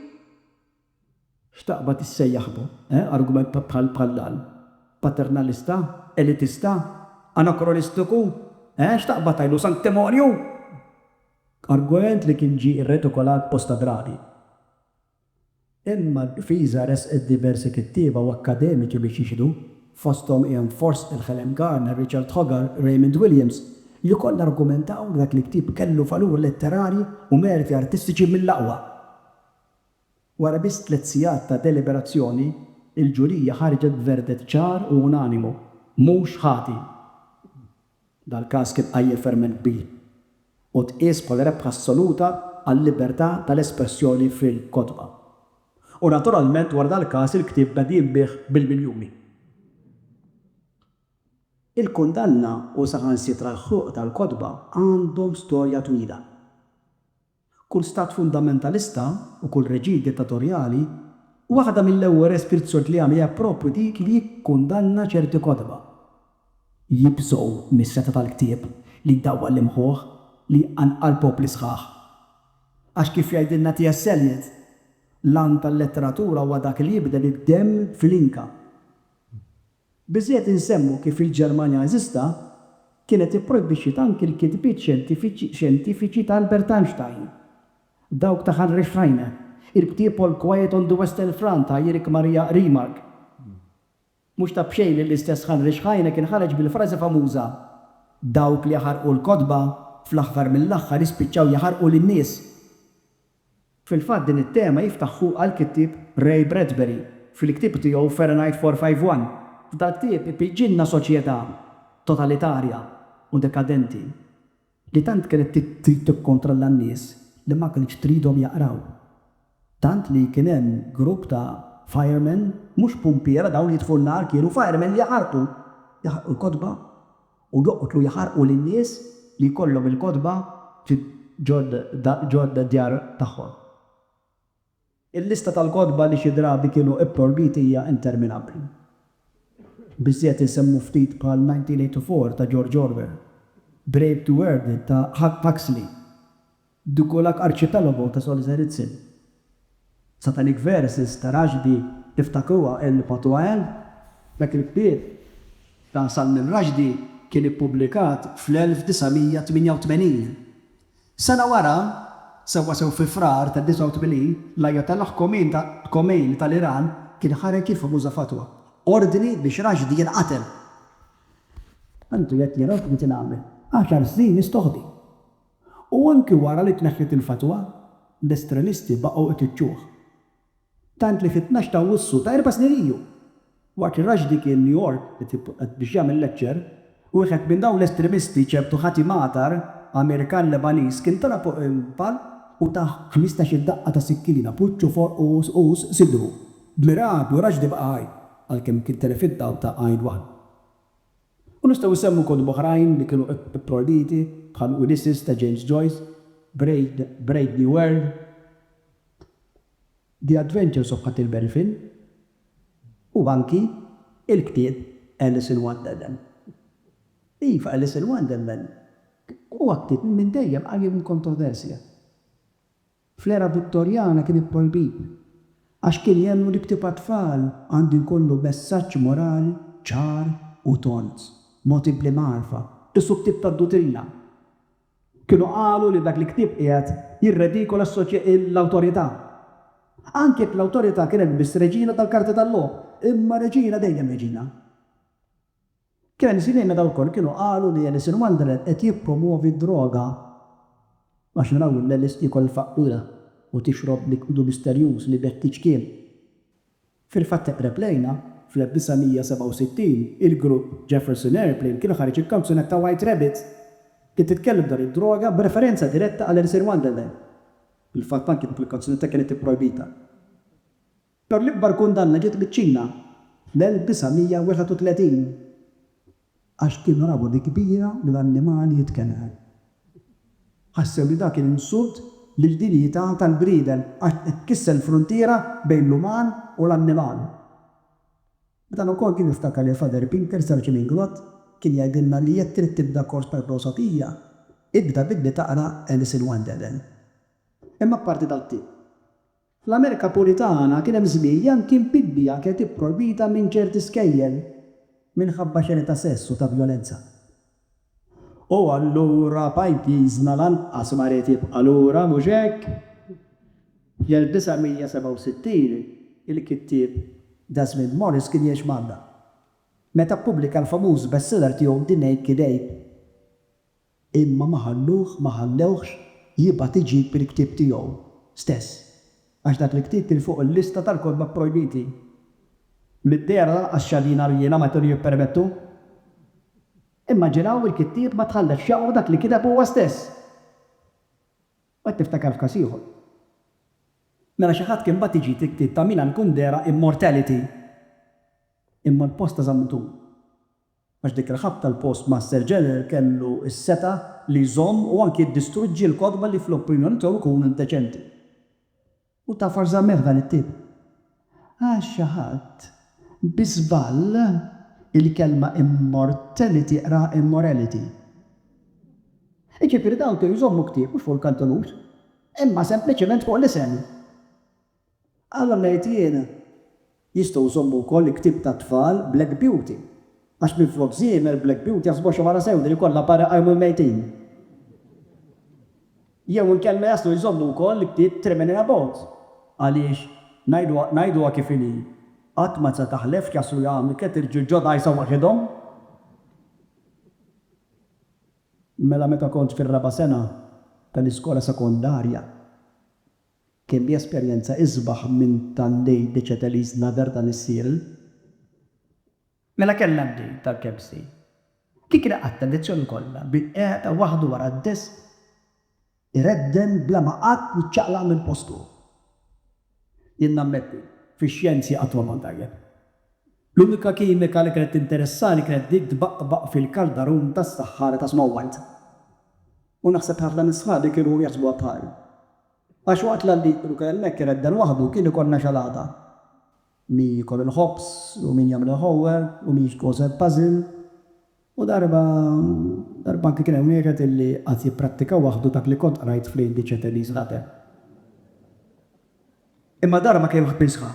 X'taqbad issejjaħ bu, eh? Argument bħal bħall-għall? Paternalista? Elitista? Anakronistiku? Eh, x'taqbad tgħidlu, sanktimonju? Argument li kien ġie rretikolat bosta drabi. Imma d-difiża ressqet diversi kittieba u akkademiċi biex jixhdu, fosthom Ian Forstall, Helen Garner, Richard Hogar, Raymond Williams, li kollha argumentaw li dak il-ktieb kellu valur letterarji u merti artistiċi mill-aqwa. Wara biss tliet sigħat ta' deliberazzjoni, il-ġurija ħarġet b'verdett ċar u unanimu, Mhux ħati. Dal-każ kien qajjem ferment kbir u tqies bħala rebħa assoluta għal-libertà tal-espressjoni fil-kotba. U naturalment wara dal-każ il-ktieb beda jinbiegħ bil-miljuni. Il-kundanna u saħansitra l-ħruq tal-kotba għandhom storja twila. Kull stat fundamentalista u kull reġim dittatorjali, waħda mill-ewwel restrizzjonijiet li jagħmel hija proprju dik li jikkundanna ċerti kotba. Jibżgħu mis-setgħa tal-ktieb li jdawwal l-imħuħ, li jqanqal popli sħaħ. Għax kif jgħidilna T. S. Eliot, l-għan tal-letteratura huwa dak li jibdel id-demm fl-inka. Biżżejjed insemmu kif il-Ġermanja nażista kienet ipprojbixxiet anki l-kitbiet xjentifiċi ta' Albert Einstein, dawk ta' Heinrich Heine, il-ktieb All Quiet on the Western Front ta' Erich Maria Remarque. Mhux ta' b'xejn li l-istess Heinrich Heine kien ħareġ bil-frażi famuża, Dawk li jaħarqu l-kotba, fl-aħħar mill-aħħar jispiċċaw jaħarqu lin-nies. Fil-fatt din it-tema jiftaħ fuqha l-kittieb Ray Bradbury fil-ktieb tiegħu Fahrenheit 451. F'dal-ktieb ipiġġilna soċjetà totalitarja u dekadenti li tant kienet trid tikkontrolla n-nies li ma kinitx tridhom jaqraw. Tant li kien hemm grupp ta' firemen, mhux pumpiera, dawn li jitfgħu n-nar kienu firemen li jaħarqu l-kotba. U joqtlu jaħarqu lin-nies li jkollhom il-kotba fi ġod d-djar tagħhom. Il-lista tal-kotba li xi drabi kienu pprojbiti hija interminabbli. Biżżejjed insemmu ftit bħal 1984 ta' George Orwell, Brave to Earth ta' Huxley, Dukolak Archipelago ta' Solzhenitsyn. Satanic Verses ta' Rushdie Iftakruha El Patuael Dak il-ktieb ta' Salmin Rushdie kien ippubblikat fl-1988. Sena wara, sewwasew fi Frar tad-89, l-Ayatollah Khomeini tal-Iran kien ħareġ il-famuża fatwa, ordni biex Rushdie jinqatel. Tantu jekk jien ordni kien għamel għaxar snin mistoħbi. U anki wara li tneħħiet il-fatwa, l-estremisti baqgħu itiċċuh. Tant li fit-tnax ta' Awwissu ta' erba' snin ilu, waqt li Rushdie kien New York qed biex jagħmel lecture, wieħed minn dawn l-estremisti, ċertu Hati Matar, Amerikan Lebaniż, kien tela' fuq il-palk u tah ħmistax-il daqqa ta' sikkina, b'wiċċu fuq qus sidru. B'miraklu Rushdie baqa' ħaj, għalkemm kien telef id-dawl ta' għajn waħda. U nistgħu nsemmu kotba oħrajn li kienu ipprojbiti bħal Ulysses ta' James Joyce, Brave New World, The Adventures of Huckleberry Finn u anki l-ktieb Alice in Wonderland. Iva, Alice in Wonderland huwa ktieb li minn dejjem għajjem il-kontroversja. Fl-era Vittorjana kien ipprojbit għax kien jemmnu li ktieb għat-tfal għandu jkollu messaġġ morali ċar u tond, mogħti bl-imgħarfa, qisu ktieb tad-dutrina. Kienu qalu li dak il-ktieb qiegħed jirredikola l-awtorità. Anki jekk l-awtorità kienet biss reġina tal-karti tal-logħob, imma reġina dejjem reġina. Kien hemm żmien meta wkoll kienu qalu li Alice in Wonderland qed jippromwovi d-droga għax naraw lil Alice tiekol il-faqqura u tixrob likwidu misterjuż li b'hekk tiċkien. Fil-fatt eqreb lejna, fl-1967, il-grupp Jefferson Airplane kien ħareġ il-kanzunetta White Rabbit li titkellem dwar id-droga b'referenza diretta għal Alice in Wonderland. Fil-fatt anki dik il-kanzunetta kienet ipprojbita. Però l-ikbar kundanna ġiet miċ-Ċina fl-1931 għax kienu raw bi kbira li l-annimal jitkenegħ. Ħassew li dak kien insult lill-dinjità tal-bniedem għax qed kisser l-fruntiera bejn l-uman u l-annimal. Dan ukoll kien iftakar li Father Pinker Sir Jim Inglott kien jgħidilna li jekk trid tibda kors ta' filosofija, ibda billi taqra Alice in Wonderland. Imma apparti dak kien. Fl-Amerika Puritana kien hemm żmien li anki mpibbija kienet ipprojbita minn ċerti skejjel minħabba xeni ta' sess u ta' vjolenza. U allura pajjiżna lanqas ma ried jibqa' lura, mhux hekk? Fl-1967, il-kittieb Desmond Morris kien jgħix Malta meta ppubblika l-famuż bestseller tiegħu The Naked Ape. Imma ma ħalluh, ma ħallewhx, jibgħat iġib il-ktieb tiegħu stess, għax dak il-ktieb kien fuq il-lista tal-kotba pprojbiti. Mid-dehra lanqas xadina rjiena ma kienu jippermettu. Immaġinaw il-kittieb ma tħallex f'xaqqu dak li kiteb huwa stess! U qed niftakar f'każ ieħor. Mela xi ħadd kien bagħat iġib il-ktieb ta' Milan Kundera Immortality. Imma l-posta żammet hu. għax dik il-ħabta l-postmaster general kellu s-setgħa li jżomm u anki jiddistruġġi l-kotba li fl-opinjoni tiegħu jkunu indeċenti. U taf għax żammeh dan it-tip? Għax xi ħadd, bi żball, il-kelma immortality qraha immorality. Jiġifieri dawn kienu jżommu ktieb mhux fuq il-kantenut, imma sempliċement fuq l-isem. Għala ngħid jien? Jistgħu jżommu wkoll il-ktieb tat-tfal Black Beauty, għax minflok żiemel Black Beauty jaħsbuha xi mara sewda li jkollha para jqajmu l-mejtin. Jew inkella jaslu jżommu wkoll il-ktieb Trimming in a Boat, għaliex, ngħiduha ngħiduha kif inhi, qatt ma se taħlef x'jaslu jagħmlu tliet irġiel ġodda għajsa waħidhom. Mela meta kont fir-raba' sena tal-iskola sekondarja. Kelli esperjenza isbaħ minn tal lej Dechetelys Nader dan is-serial. Mela kellna d-date tal-KFC. Dik li qgħadt l-lezzjoni kollha bi qiegħda waħdu wara d-desk iredden bla ma qatt jiċċaqlaq minn postu. Jien nammetti, fix-xjenzi qatt ma kont tajjeb. L-unika kimika li kienet tinteressani kienet dik tbaqbaq fil-kaldarun tas-saħħara ta' Snow White. U naħseb ħafna minn sħabi kienu jaħsbuha bħali. Għax waqt l-għalliq kienu kien hemmhekk iredden waħdu kien ikollna xalata. Min jiekol il-ħobż u min jagħmel il-homework u min jkoseb puzzle. U darba, darba anki kien hemm wieħed illi qagħad jipprattika waħdu dak li kont qrajt fl-Indice ta' Elise Ladder. Imma dara ma kien ħbiżha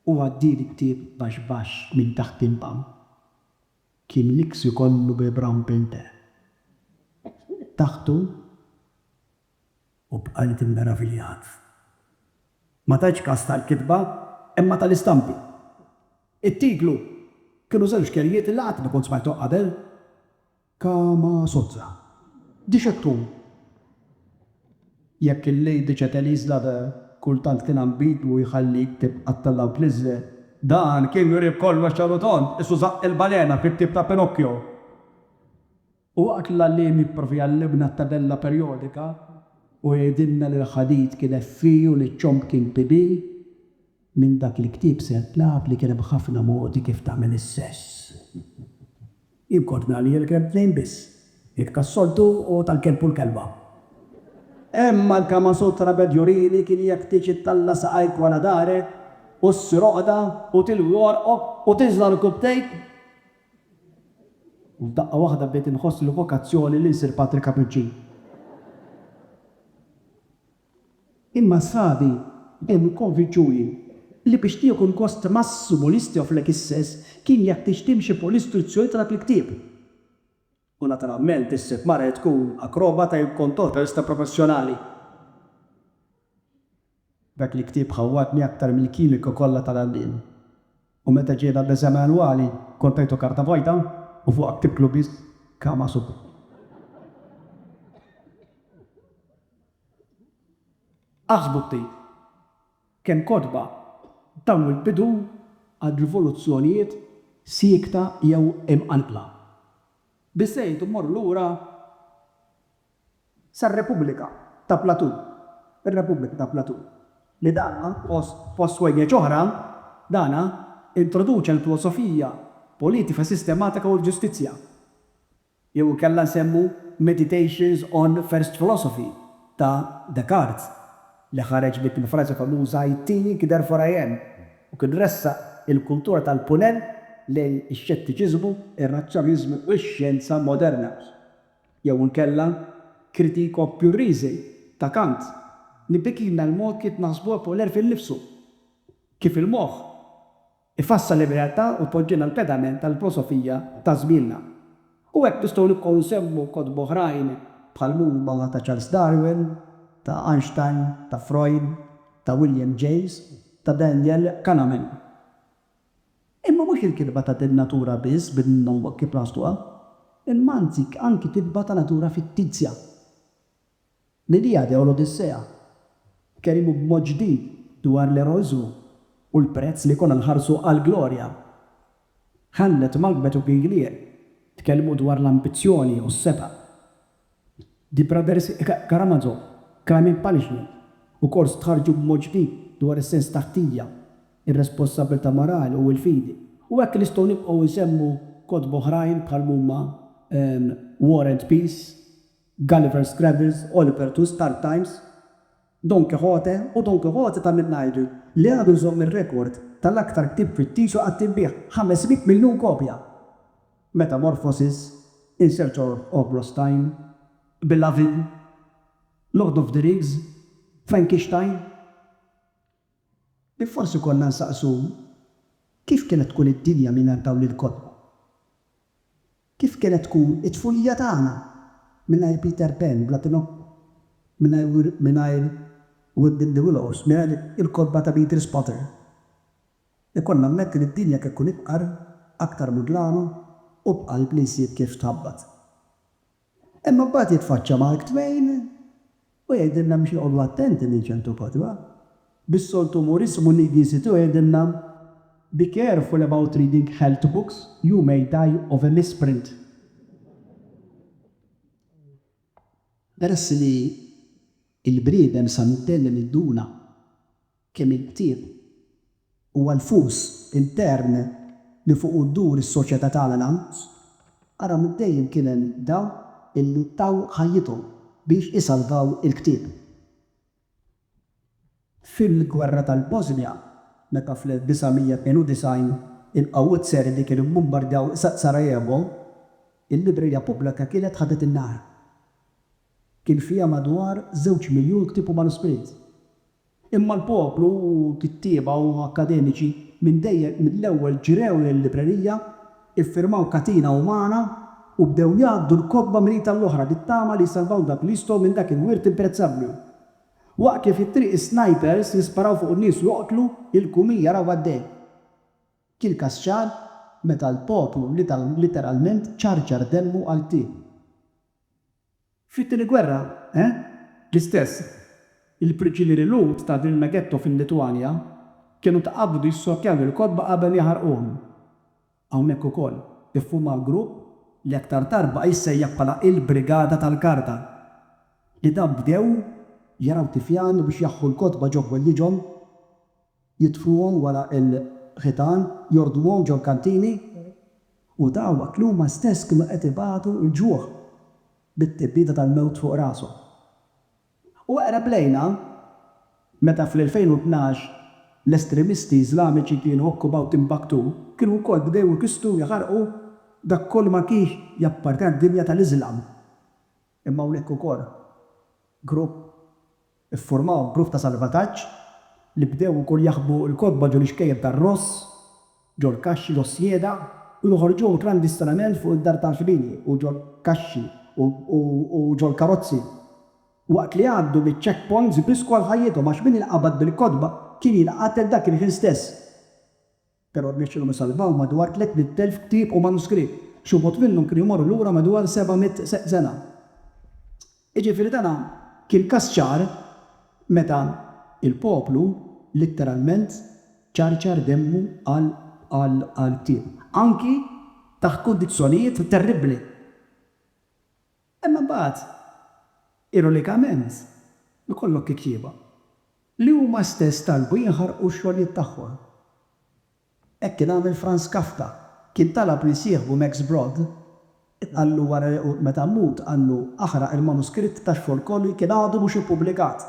u għaddieli ktieb baxx baxx minn taħt il-bank. Kien l-iks ikollu bi brown pinte. Taħtu u bqajt immeraviljat. Ma tajtx kas tal-kitba imma tal-istampi. It-titlu kienu żewġ kelmiet li qatt ma kont smajthom qabel, Kama Sozza. Dixettun. Jekk il-Lady Chatelaise Lover kultant kien ambigwu jħallik tibqa' tellgħu tliżżel, dan kien jurih b'kollox ċar u tond, qisu żaqq il-balena fil-ktieb ta' Pinocchio. U waqt li l-għalliem jipprova jgħallimna t-tabella perjodika u jgħidilna li l-ħadid kien Fe u li ċ-ċomb kien PB, minn dak il-ktieb sirt naf li kien hemm ħafna modi kif tagħmel is-sess. Jien kont ngħalli il-kelb tnejn biss, dik tas-soltu u tal-kelb u l-kelba. Imma l-Kama Sutra beda jurini kien jeħtieġ ittalla' saqajk wara darek u ssir għoqda u tilwi għorqok u tiżla' rukubtejk. U f'daqqa waħda bdejt inħoss il-vokazzjoni li nsir patri kapuċċin. Imma sħabi kienu kkonvinċuni li biex tieħu l-gost massimu li jistgħu f'Lek Isses kien jeħtieġ timxi fuq l-istruzzjoni ta' dak il-ktieb. U naturalment issib mara li tkun akrobata jew kontorrista professjonali. Dak il-ktieb ħawwadni aktar mill-kimika kollha tal-għalliem. U meta ġie dan l-eżami annwali, kont tajtu karta vojta u fuqha ktibtlu biss Kama Sutra. Aħsbu ftit kemm kotba taw il-bidu għal rivoluzzjonijiet siekta jew imqanqla. Biss għidu mmorru lura. sar-Repubblika ta' Plateau, ir-Repubblika ta' Plateau, li dana, fost wegħġeġ oħra, dana introduċa l-filosofija politika sistematika u l-ġustizzja, jew inkella nsemmu Meditations on First Philosophy ta' Descartes, li ħareġ dik il-frażi famuża I think, therefore I am, u kien ressaq il-kultura tal-Punent lejn ix-xettiċiżmu, ir-razzjoniżmu u x-xjenza moderna. Jew inkella Critico Purisi ta' Kant li bikilna l-mod kif naħsbu fuq l-għerf innifsu, kif il-moħħ ifassal ir-realtà u jpoġġina l-pedament tal-filosofija ta' żmienna. U hekk nistgħu nibqgħu nsemmu kotba oħrajn bħall-huma ta' Charles Darwin, ta' Einstein, ta' Freud, ta' William James, ta' Daniel Kahneman. Imma mhux il-kitba ta' din natura biss bin-nonwok kif naħsduha. Il-Manzik anki kitba ta' natura fittizja. L-Iliade u l-Odissea tkellmu b'mod ġdid dwar l-eroiżmu u l-prezz li jkollna nħarsu għall-glorja. Hamlet, Macbeth u King Lear tkellmu dwar l-ambizzjoni u s-setgħa. The Brothers Karamazov, Crime and Punishment, u kors tħarrġu b'mod ġdid dwar is-sens ta' ħtija, ir-responsabbiltà morali u l-fidi. U hekk nistgħu nibqgħu nsemmu kotba oħrajn bħal m'huma War and Peace, Gulliver's Travels, Oliver Twist, Hard Times, Don Quixote u Don Quixote ta' Minnajdu, li għadu jżomm ir-rekord tal-aktar ktieb fittizju qatt inbiegħ, 500 miljun kopja, Metamorphoses, In Search of Lost Time, Beloved, Lord of the Rings, Frankenstein, li forsi konna nsaqsu kif kienet tkun id-dinja mingħajr dawn il-kotba? Kif kienet tkun it-tfulija tagħna mingħajr Peter Pan bla Pinocchio, mingħajr mingħajr Weeping the Willows, mingħajr il-kotba ta' Beatrice Potter? Ikun nammetti li d-dinja kien tkun ifqar, aktar mudlama u b'qalb li nsib kif tħabbat. Imma mbagħad jitfaċċa Mark Twain u jgħidilna biex noqogħdu attenti minn ċertu kotba. Bis-soltu umorismu l-Ingliżi tiegħu jgħidilna, Be careful about reading health books, you may die of a misprint. Peress li l-bniedem sa mid-dell imiduna. Kemm il-ktieb huwa l-fus intern li fuqu ddur is-soċjetà tagħna l-għanus, ara minn dejjem kien hemm dawk illi taw ħajjithom biex isalvaw il-ktieb. Fil-gwerra tal-Bosnja, meta fl-1992 il-qawwiet Serbi kienu mbombardjaw Sarajevo, il-librerija pubblika kienet ħadet in-nar. Kien fiha madwar żewġ miljun ktieb u manuskritt. Imma l-poplu u kittieba u akkademiċi minn dejjem mill-ewwel ġrew il-librerija, iffirmaw katina umana u bdew jgħaddu l-kotba mrita l-oħra bit-tama li jsalvaw dak li jistgħu minn dak il-wirt imprezzabbli. Waqt kif it-triq is-snajpers jisparaw fuq in-nies u joqtlu, il-kumija jaraw għaddej. Kien każ ċar meta l-poplu literalment ċarċar demmu għal ktieb. Fit-Tieni Gwerra, eh? L-istess. Il-priġunieri Lhud ta' Vilna Ghetto fil-Litwanja kienu tqabbdu jissortjaw il-kotba qabel jaħarquhom. Hawnhekk ukoll iffumaw grupp li aktar tard baqa' jissejjaħ bħala il-Brigada tal-Karta. Li dawn bdew jaraw tifjan u biex jaħħu l-kotba ġo ħwejjiġhom. jitfuhom wara l-ħitan, jordmuhom ġol-kantini, u dawn waqt li huma stess kienu qed ibatu l-ġuħ bit-tibdida tal-mewt fuq rashom. U eqreb lejna, meta fl-2012 l-estremisti Iżlamiċi kienu okkupaw Timbaktu, kienu wkoll bdew ikissru u jaħarqu dak kollu ma kienx jappartjena d-dinja tal-Iżlam. Imma hawnhekk ukoll grupp iffurmaw grupp ta' salvataġġ li bdew ukoll jaħbu l-kotba ġo l-ixkejjel tar-Ross, ġol-kaxxi ġos-Sjeda u joħorġuhom klandistinament fuq id-dar tal-ħbini u ġol-kaxxi u ġol-karozzi waqt li jgħaddu miċ-check points jbissku għal ħajjithom għax min inqabad bil-kotba kien jinqatel dak il-ħin stess. Però rnexxielhom isalvaw madwar 300,000 ktieb u manuskritt. Xi wħud minnhom kienu jmorru lura madwar 700 sena. Jiġifieri dan kien każ ċar meta l-poplu litteralment ċarċar demmu għal ktieb, anki taħt kundizzjonijiet terribbli. Imma mbagħad, ironikament, ikollok kittieba li huma stess talbu jinħarqu x-xogħlijiet tagħhom. Hekk kien għamel Franz Kafka. Kien talab li jsieħbu Max Brod, qallu wara li meta mmut, qallu, aħraq il-manuskritt ta' xogħol kollu li kien għadu mhux ippubblikat.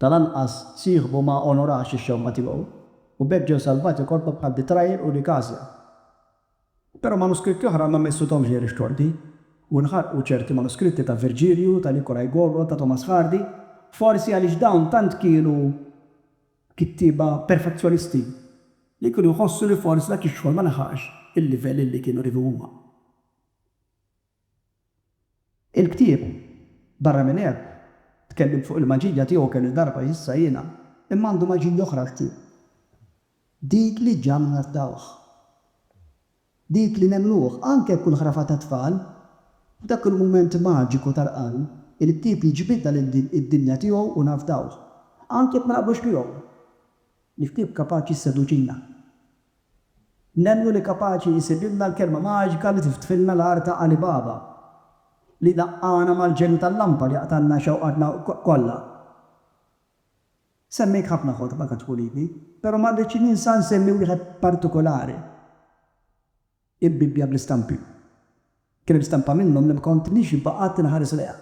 Tal-anqas sieħbu ma onorax ix-xewqa tiegħu u b'hekk ġew salvati korpa bħal Betrayer u Nicasia. Però manuskritti oħra ma missithomx ghejr ix-xorti, u nħarqu ċerti manuskritti ta' Virgilju, ta' Nikolaj Gogol, ta' Thomas Hardy, forsi għaliex dawn tant kienu kittieba perfezzjonisti li kienu jħossu li forsi dak ix-xogħol ma laħaqx il-livell illi kienu jridu huma. Il-ktieb, barra minn hekk, tkellimt fuq il-maġija tiegħu kemm-il darba issa jiena, imma għandu maġija oħra l-ktieb. Dik li ġġagħlna nafdawh. Dik li nemmnuh, anke jekk hu l-ħrafa tat-tfal. F'dak il-mument maġiku tal-qalb, il-ktieb jiġbidna lil din id-dinja tiegħu u nafdawh. Anke jekk ma naqblux miegħu, il-ktieb kapaċi jisseduċina. Nemmnu li kapaċi jsibilna l-kelma maġika li tiftħilna l-għar ta' Ali Baba, li jlaqqagħna mal-ġenju tal-lampa li jaqtagħlna xewqatna kollha. Semmejt ħafna kotba ta' tfuliti, però ma rridx ninsa nsemmi wieħed partikolari, il-Bibbja bl-istampi. Kien hemm stampa minnhom li ma kontnix baqgħet inħares lejha.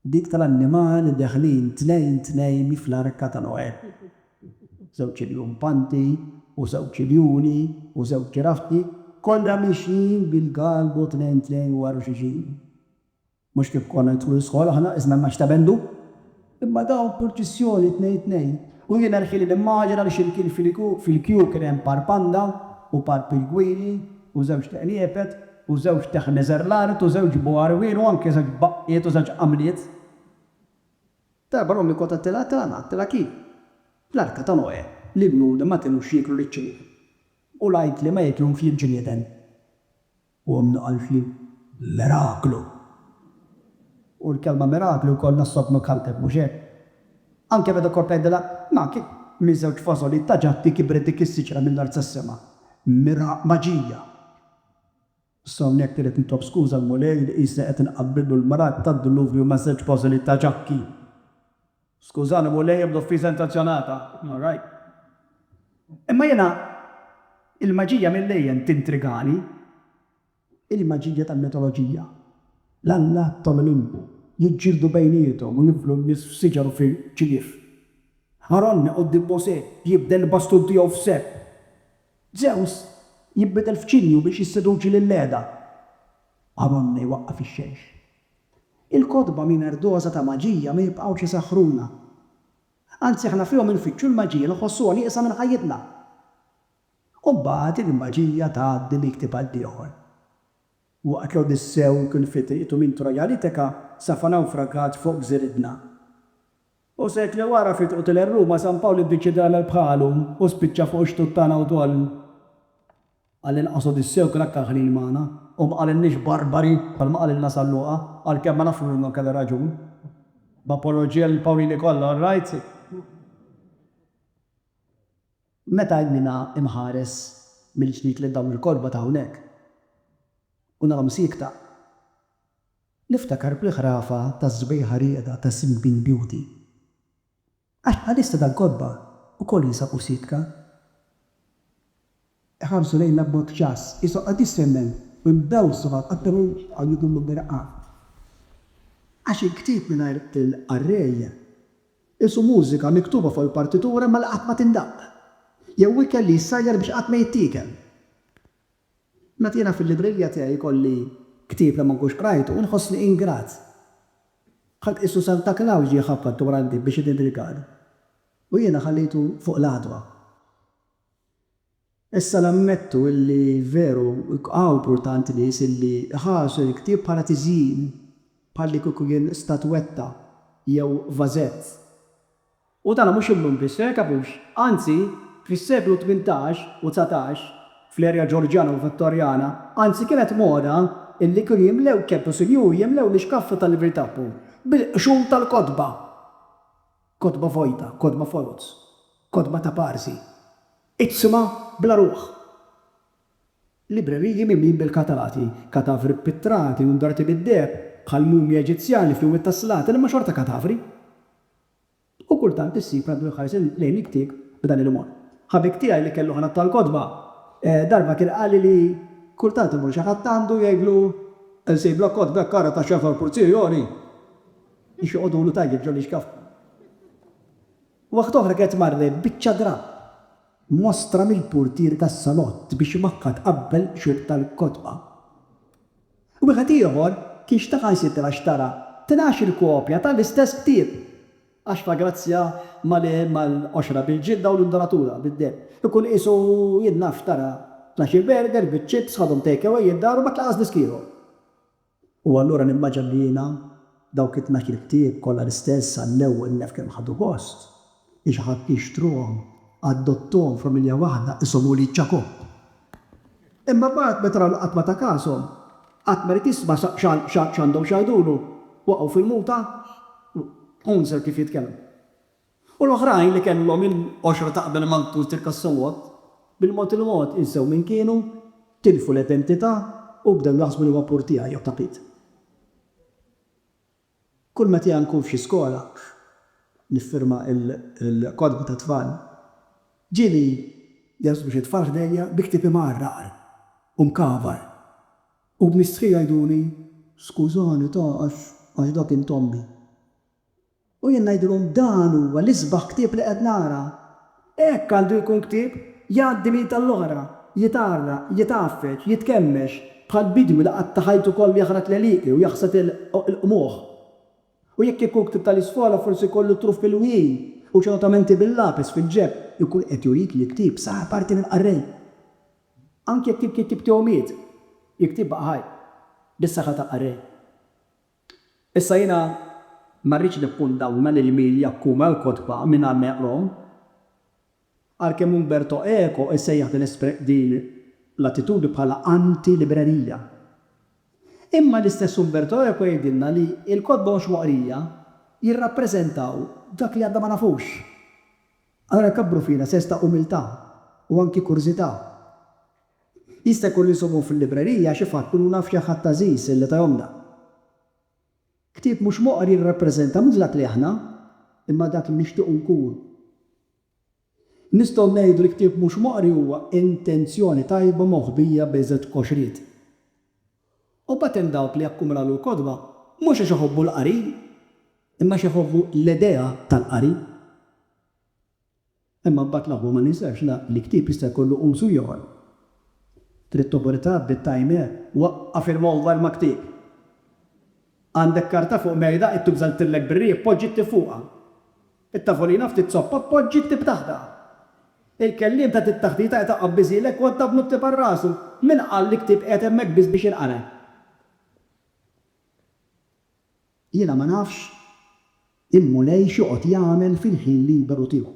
Dik tal-annimali deħlin tnejn tnejn fl-arka ta' Noè. Żewġ iljumpanti u żewġ iljuni u żewġ ġiraffi kollha mixjin bil-galbu tnejn tnejn wara xulxin. Mhux kif konna nidħlu l-iskola aħna qisna l-Naxx ta' Bendu, imma dawn purċissjoni tnejn tnejn. U jiena rħili nimmaġina li x'imkien fil-kju kien hemm par panda u par pirgwili. u żewġt qniepet, u żewġt teħneżer l-art, u żewġ bgħarwien, u anki żewġ baqqiet u żewġ qamliet. Darba l-ommi kont għedtilha, tilha ngħid, tilha kif? Fl-arka ta' Noè, l-ibnuni ma kinux jieklu liċ-ċejf, u l-ajkli ma jeklhomx lill-ġnieden. U ommi qaltli, Miraklu! U l-kelma miraklu jkollna s-sodnu kalpeb, mhux hekk? Anke meta kont ngħidilha, Ma, kif, minn żewġ fażoliet ta' ġatti kibret dik is-siġra mill-art sas-sema? Mira maġija! Issa hawnhekk irrid nitlob skuża l-Mulej li qisni qed inqabbillu l-mrad tad-Duluvju ma' żewġ fażoliet ta' ġatti. Skużani, Mulej, ebda offiża intenzjonata. All right. Imma jiena, il-maġija mill-lejjen tintrigani. Il-maġija tal-mitoloġija. L-allat tal-Olimpu jiġġieldu bejniethom u jinflu n-nies f'siġar u fi ċinjief. Aronne quddiem Mosè jibdel il-bastun tiegħu f'serp. Żews jinbidel f'ċinju biex jisseduċi lil Leda. Aronne jwaqqaf ix-xemx. Il-kotba mingħajr doża ta' maġija ma jibqgħux isaħħruna. Anzi aħna fihom infittxu l-maġija, nħossuha nieqsa minn ħajjitna. U mbagħad il-maġija tgħaddi minn ktieb għall-ieħor. Waqt l-Odissew kien fi triqtu minn Troja għal Itika, safa nawfragat fuq gżir Idna. U sekli wara fi triqtu lejn Ruma, San Pawl iddeċieda jagħmel bħalu u spiċċa fuq ix-xtut tagħna wkoll. Għall-inqas Odissew kien aktar ħnin magħna u ma qalilniex barbari bħalma qalilna San Luqa, għalkemm ma nafx minnu kellu raġun. B'apoloġija lil Pawlini kollha, all right? Meta għajnina imħares mill-ġdid lil dawn il-kotba ta' hawnhekk u narahom siekta, niftakar bl-ħrafa tas-sbejħa rieda ta' Sleeping Beauty. Għax bħalissa dal-kotba wkoll jinsabu siekta. Iħarsu lejna b'mod ġass, qishom qed jistennew u jbewsu mal-qatru għal jidhru mill-irqad. Għax il-ktieb mingħajr il-qarrej Qisu mużika miktuba fuq il-partitura ma li qatt ma tindaqq, jew ikel li jissajjar biex qatt ma jittiekel. Meta jiena fil-librilja tiegħi jkolli ktieb li ma nkunx qrajtu, nħossni ingrat. Bħal qisu Santa Klaws ġie jħabbat dwar għandi biex idinni rigal, u jiena ħallejtu fuq l-għadwa. Issa nammettu illi veru hu mpurtanti nies illi iħarsu l-ktieb bħala tiżjin, bħal li kieku kien statwetta jew vażett. U dan mhux illum biss, fejn tafux, anzi fis-seklu tmintax u dsatax, fl-erja Ġorġjana u Vittorjana, anzi kienet moda illi kienu jimlew ċertu sinjuri jimlew l-ixkaffi tal-libri tagħhom bil-qxur tal-kotba. Kotba vojta, kotba foloz, kotba ta' parsi. Iqsimha bla ruħ! Libreriji mimlin bil-katati, katavri ppittrati u ndarti bid-deheb, bħal mumji Eġizzjani fl-Wied tas-Slati li huma xorta katavri. U kultant issib li għaddu jħarsu lejn il-ktieb b'dan il-mod. Ħabib tiegħi li kellu ħanat tal-kotba, darba kien qalli li kultant imur xi ħadd għandu jgħidlu, Insibla kotba hekk kara ta' xefgħa u purzijioni! biex joqogħdulu tajjeb ġol-ixkaf. Waħda oħra kienet marret biċċa drapp mwassra mill-purtier tas-salott biex imakka tqabbel xhud tal-kotba. Wieħed ieħor kien xtaħansitra xtara tnax-il kopja ta' l-istess ktieb għax fa' grazzja ma' li ma' l-qoxra bil-ġilda u l-indoratura bid-demm. Ikun qisu jien naf xtara tnax-il burger biċ-chips, ħadhom take away id-dar u ma tlaqas disk ieħor. U allura nimmaġina li jiena dawk it-tnax-il ktieb kollha l-istess għall-ewwel nef kemm ħadu gost, li xi ħadd jixtruhom, adottuhom f'familja waħda, qishom ulied Ġakobb. Imma mbagħad meta raw li qatt ma ta kashom, qatt ma ried jisma' x'għandhom x'jgħidulu, waqgħu fil-muta, Unser kif jitkellmu. U l-oħrajn li kellhom il-qoxra ta' qabel ma ntużrka s-salott, bil-mod il-mod insew min kienu, tilfu l-identità u bdew jaħsbu li huwa pur tiegħi jew ta' Pete. Kull meta nkun f'xi skola niffirma l-kotba tat-tfal, ġieli jaħsbu xi tfal ħdejja bi ktieb imgħarraqar u mkavar u b'mistħija jgħiduli, Skużani ta' għax dak int ommi. U jien ngħidilhom, Dan huwa l-isbaħ ktieb li qed nara. Hekk għandu jkun ktieb, jgħaddi minn id għall-oħra, jitgħarraq, jitgħaffeġ, jitkemmex, bħal bidwi li qatta' ħajtu kollu jaħrat l-għelieqi u jaħsad il-qmuħ. U jekk ikun ktieb tal-isfola, forsi jkollu t-truf milwin u xi notamenti bil-lapis fil-ġeb. Ikun qed jurik li l-ktieb sar parti minn qarrej. Anki jekk il-kittieb tiegħu miet, il-ktieb baqa' ħaj, bis-saħħa tal-qarrej. Issa jiena ma rridx nikkundawna lil min jakkuma l-kotba mingħajr ma jaqrahom. Għalkemm Umberto Eco jsejjaħ din din l-attitudni bħala anti-librerija. Imma l-istess Umberto Eco jgħidilna li l-kotba mhux moqrija jirrappreżentaw dak li għadna ma nafux. Allura jkabbru fina sens ta' umiltà u anki kurżità. Jista' jkun li nsibuhom fil-librerija, xi fatt, kunu naf xi ħadd għażiż li tahomna. Ktieb mhux moqri jirrappreżenta mhux dak li aħna, imma dak li nixtiequ nkunu. Nistgħu ngħidu li ktieb mhux moqri huwa intenzjoni tajba moħbija b'iżgħet qoxriet. U mbagħad hemm dawk li jakkumulalu l-kotba mhux għax iħobbu l-qari, imma għax iħobbu l-idea tal-qari. Imma mbagħad l-aħwa ma ninsex la li ktieb jista' jkollu użu ieħor. Kriptoburita bdiet tajmer. Waqqaf il-mowbajl ma' ktieb. Għandek karta fuq mejda, id tuża ltillek bir-riħ, poġġi ktieb fuqha. It-tavolina ftit soppa, poġġi ktieb taħtha. Il-kelliem ta' tit taħtita qed iqabb biżielek u għadda b'nu ktieb għal rasu. Min qal li ktieb qiegħed hemmhekk biss biex jinqara? Jiena ma nafx il-Mulej x'joqgħod jagħmel fil-ħin liberu tiegħu.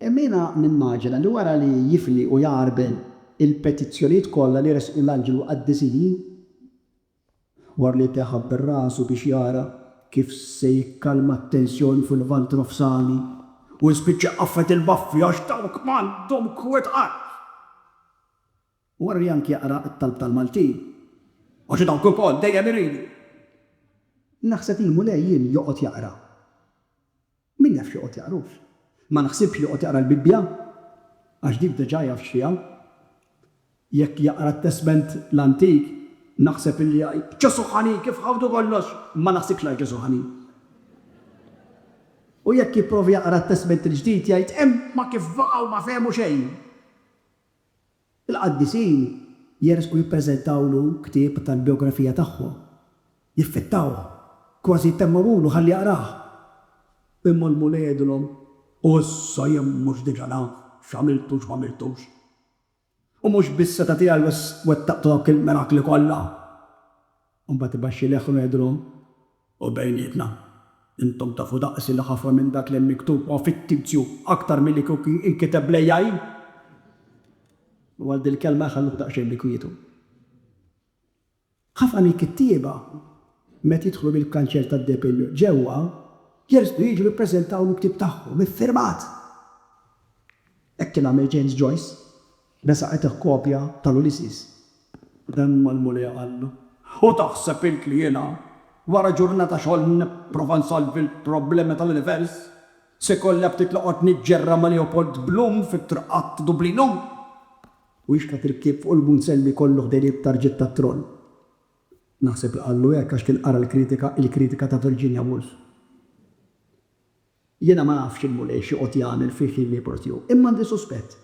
Imma jiena nimmaġina li wara li jifli u jgħarbel il-petizzjonijiet kollha li ressqu l-anġli l-qaddisin, wara li teħa bir-rasu biex jara kif se jikkalma t-tensjoni fil-Lvant Nofsani, u jispiċċa jqaffet il-baffi għax dawk m'għandhom kwet qatt. Worri anki jaqra t-talb tal-Maltin. Għax dawk ukoll dejjem iridu. Naħseb il-Mulej jien joqgħod jaqra. Min jaf x'joqgħod jaqrux. Ma naħsibx li joqgħod jaqra l-Bibbja, għax dik diġà jaf x'fiha. Jekk jaqra t-Testment l-Antik, naħseb illi jgħid, Ġesù ħanin, kif ħawdu kollox! Ma naħsibx li għax Ġesù ħanin. U jekk jipprova jaqra t-Testment il-Ġdid, jgħid, Imma kif baqgħu ma fehmu xejn! Il-qaddisin jersqu jippreżentawlu ktieb tal-bijografija tagħhom, jiffittawh, kważi jtemmgħulu ħalli jaqrah. Imma l-Mulej jgħidilhom, U issa jien mhux diġà naf x'għamiltu u x'm'għamiltux? U mhux bis-setgħa tiegħi wettaqtu dawk il-mirakli kollha? U mbagħad ibaxxi leħħnu ngħidilhom, U bejnietna, intom tafu daqsi li ħafna minn dak li hemm miktub huwa fittizju aktar milli kieku inkiteb bl-AI? U għal dil-kelma jħalluh daqsxejn bi kwietu. Ħafna mill-kittieba, meta jidħlu mill-kanċell tad-depilju ġewwa, jersqu jiġu jippreżentaw l-ktieb tagħhom iffirmat. Hekk kien għamel James Joyce. Resaqetlek kopja tal-Ulysses? Hemm mal-Mulej Alla. U taħseb int li jiena, wara ġurnata xogħol nipprova nsolvi l-problemi tal-univers, se jkolli aptit noqgħod niġġerra ma' Leopold Bloom fit-triqat ta' Dublinu? U jixbet irkieb fuq il-munsell li jkollu ħdejn it-tarġiet tat-troll. Naħseb li qallu hekk għax kien qara l-kritika, il-kritika ta' Virginia Woolf. Jiena ma nafx il-Mulej x'joqgħod jagħmel fi ħin ieħor tiegħu, imma għandi suspett.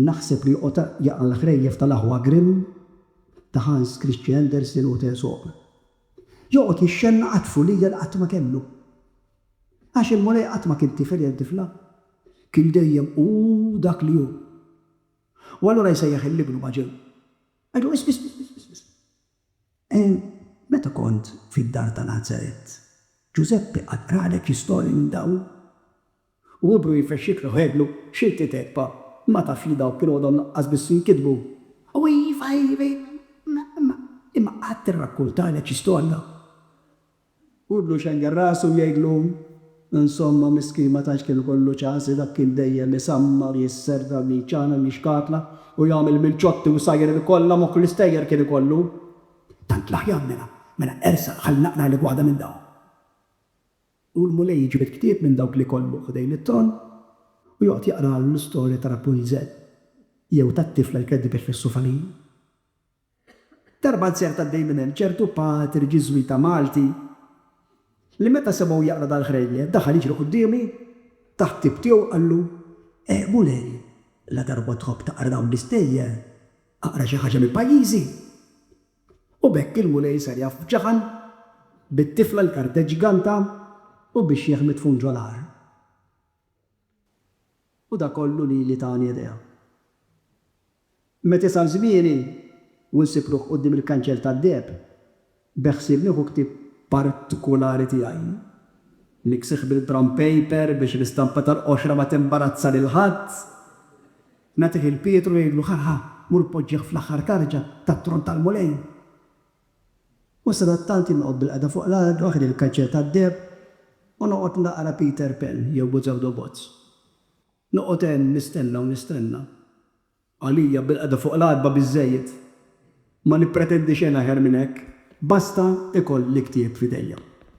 Naħseb li joqgħod jaqra' l-ħrejjef tal-aħwa Grimm, ta' Hans Christian Andersen u t'Aesop. Joqgħod jixxennaq għat-tfulija li qatt ma kellu. Għax il-Mulej qatt ma kien tifel jew tifla. Kien dejjem hu dak li hu. U allura jsejjaħ 'il Ibnu maġen. Għidu, 'Isma', isma', isma', isma'. E meta kont fid-dar ta' Nazaret, Ġużeppi qatt qralek xi storji minn dawn? U hu bru jfexxiklu għedlu, X'iltiet hekk, Pa'? Ma tafx li dawk kienu għadhom lanqas biss jinkitbu? U iva, iva, iva, imma qatt irrakkuntalek xi storja? Hu jlu jxengel rasu u jgħidlu, Insomma, miskin ma tantx kien ikollu ċans, dak kien dejjem isammar, jisserda, jċanem, jixkatla, u jagħmel mill-ċotti u sajjer il-kollha, moħħ l-istejjer kien ikollu. Tant l-aħjar mela, mela ersaq ħalli naqralek waħda minn dawn. U l-Mulej ġibed ktieb minn dawk li kollu ħdejn it-tron u joqgħod jaqralu l-istorja ta' Rapunzel jew tat-tifla li kienet dibet fis-sufalin. Darba nsiert għaddej minn hemm ċertu patri Ġiżwita Malti li meta semgħu jaqra dal-ħrejjef daħal jiġri quddiemi, ta ħbieb tiegħu qallu, Eh, Mulej, la darba tħobb taqra dawn l-istejjer, aqra xi ħaġa minn pajjiżi! U b'hekk il-Mulej sar jaf b'ġaħan, bit-tifla l-karteġ ganta u bix-xiħ midfun ġo l-għar. U dak kollu li li tani idea. Met isal żmieni u nsib ruħ quddiem il-kanċell tad-deheb, beħsieb nieħu ktieb partikulari tiegħi, miksieħ bil-brown paper biex l-istampa tal-qoxra ma timbarazza lil ħadd, nagħtih 'il Pietru u ngħidlu, Ħa, ħa, mur poġġih fl-aħħar tarġa tat-tron tal-Mulej. U sadattant jien noqgħod bilqagħda fuq l-art waħdi l-kaċċett għad-deheb u noqgħod naqra Peter Pan jew Boots Out of Bots. Noqgħod hemm nistenna u nistenna. Għalija bilqagħda fuq l-art ba' biżżejjed. Ma nippretendi xejn aħjar minn hekk. Basta ikoll il-ktieb f'idejja.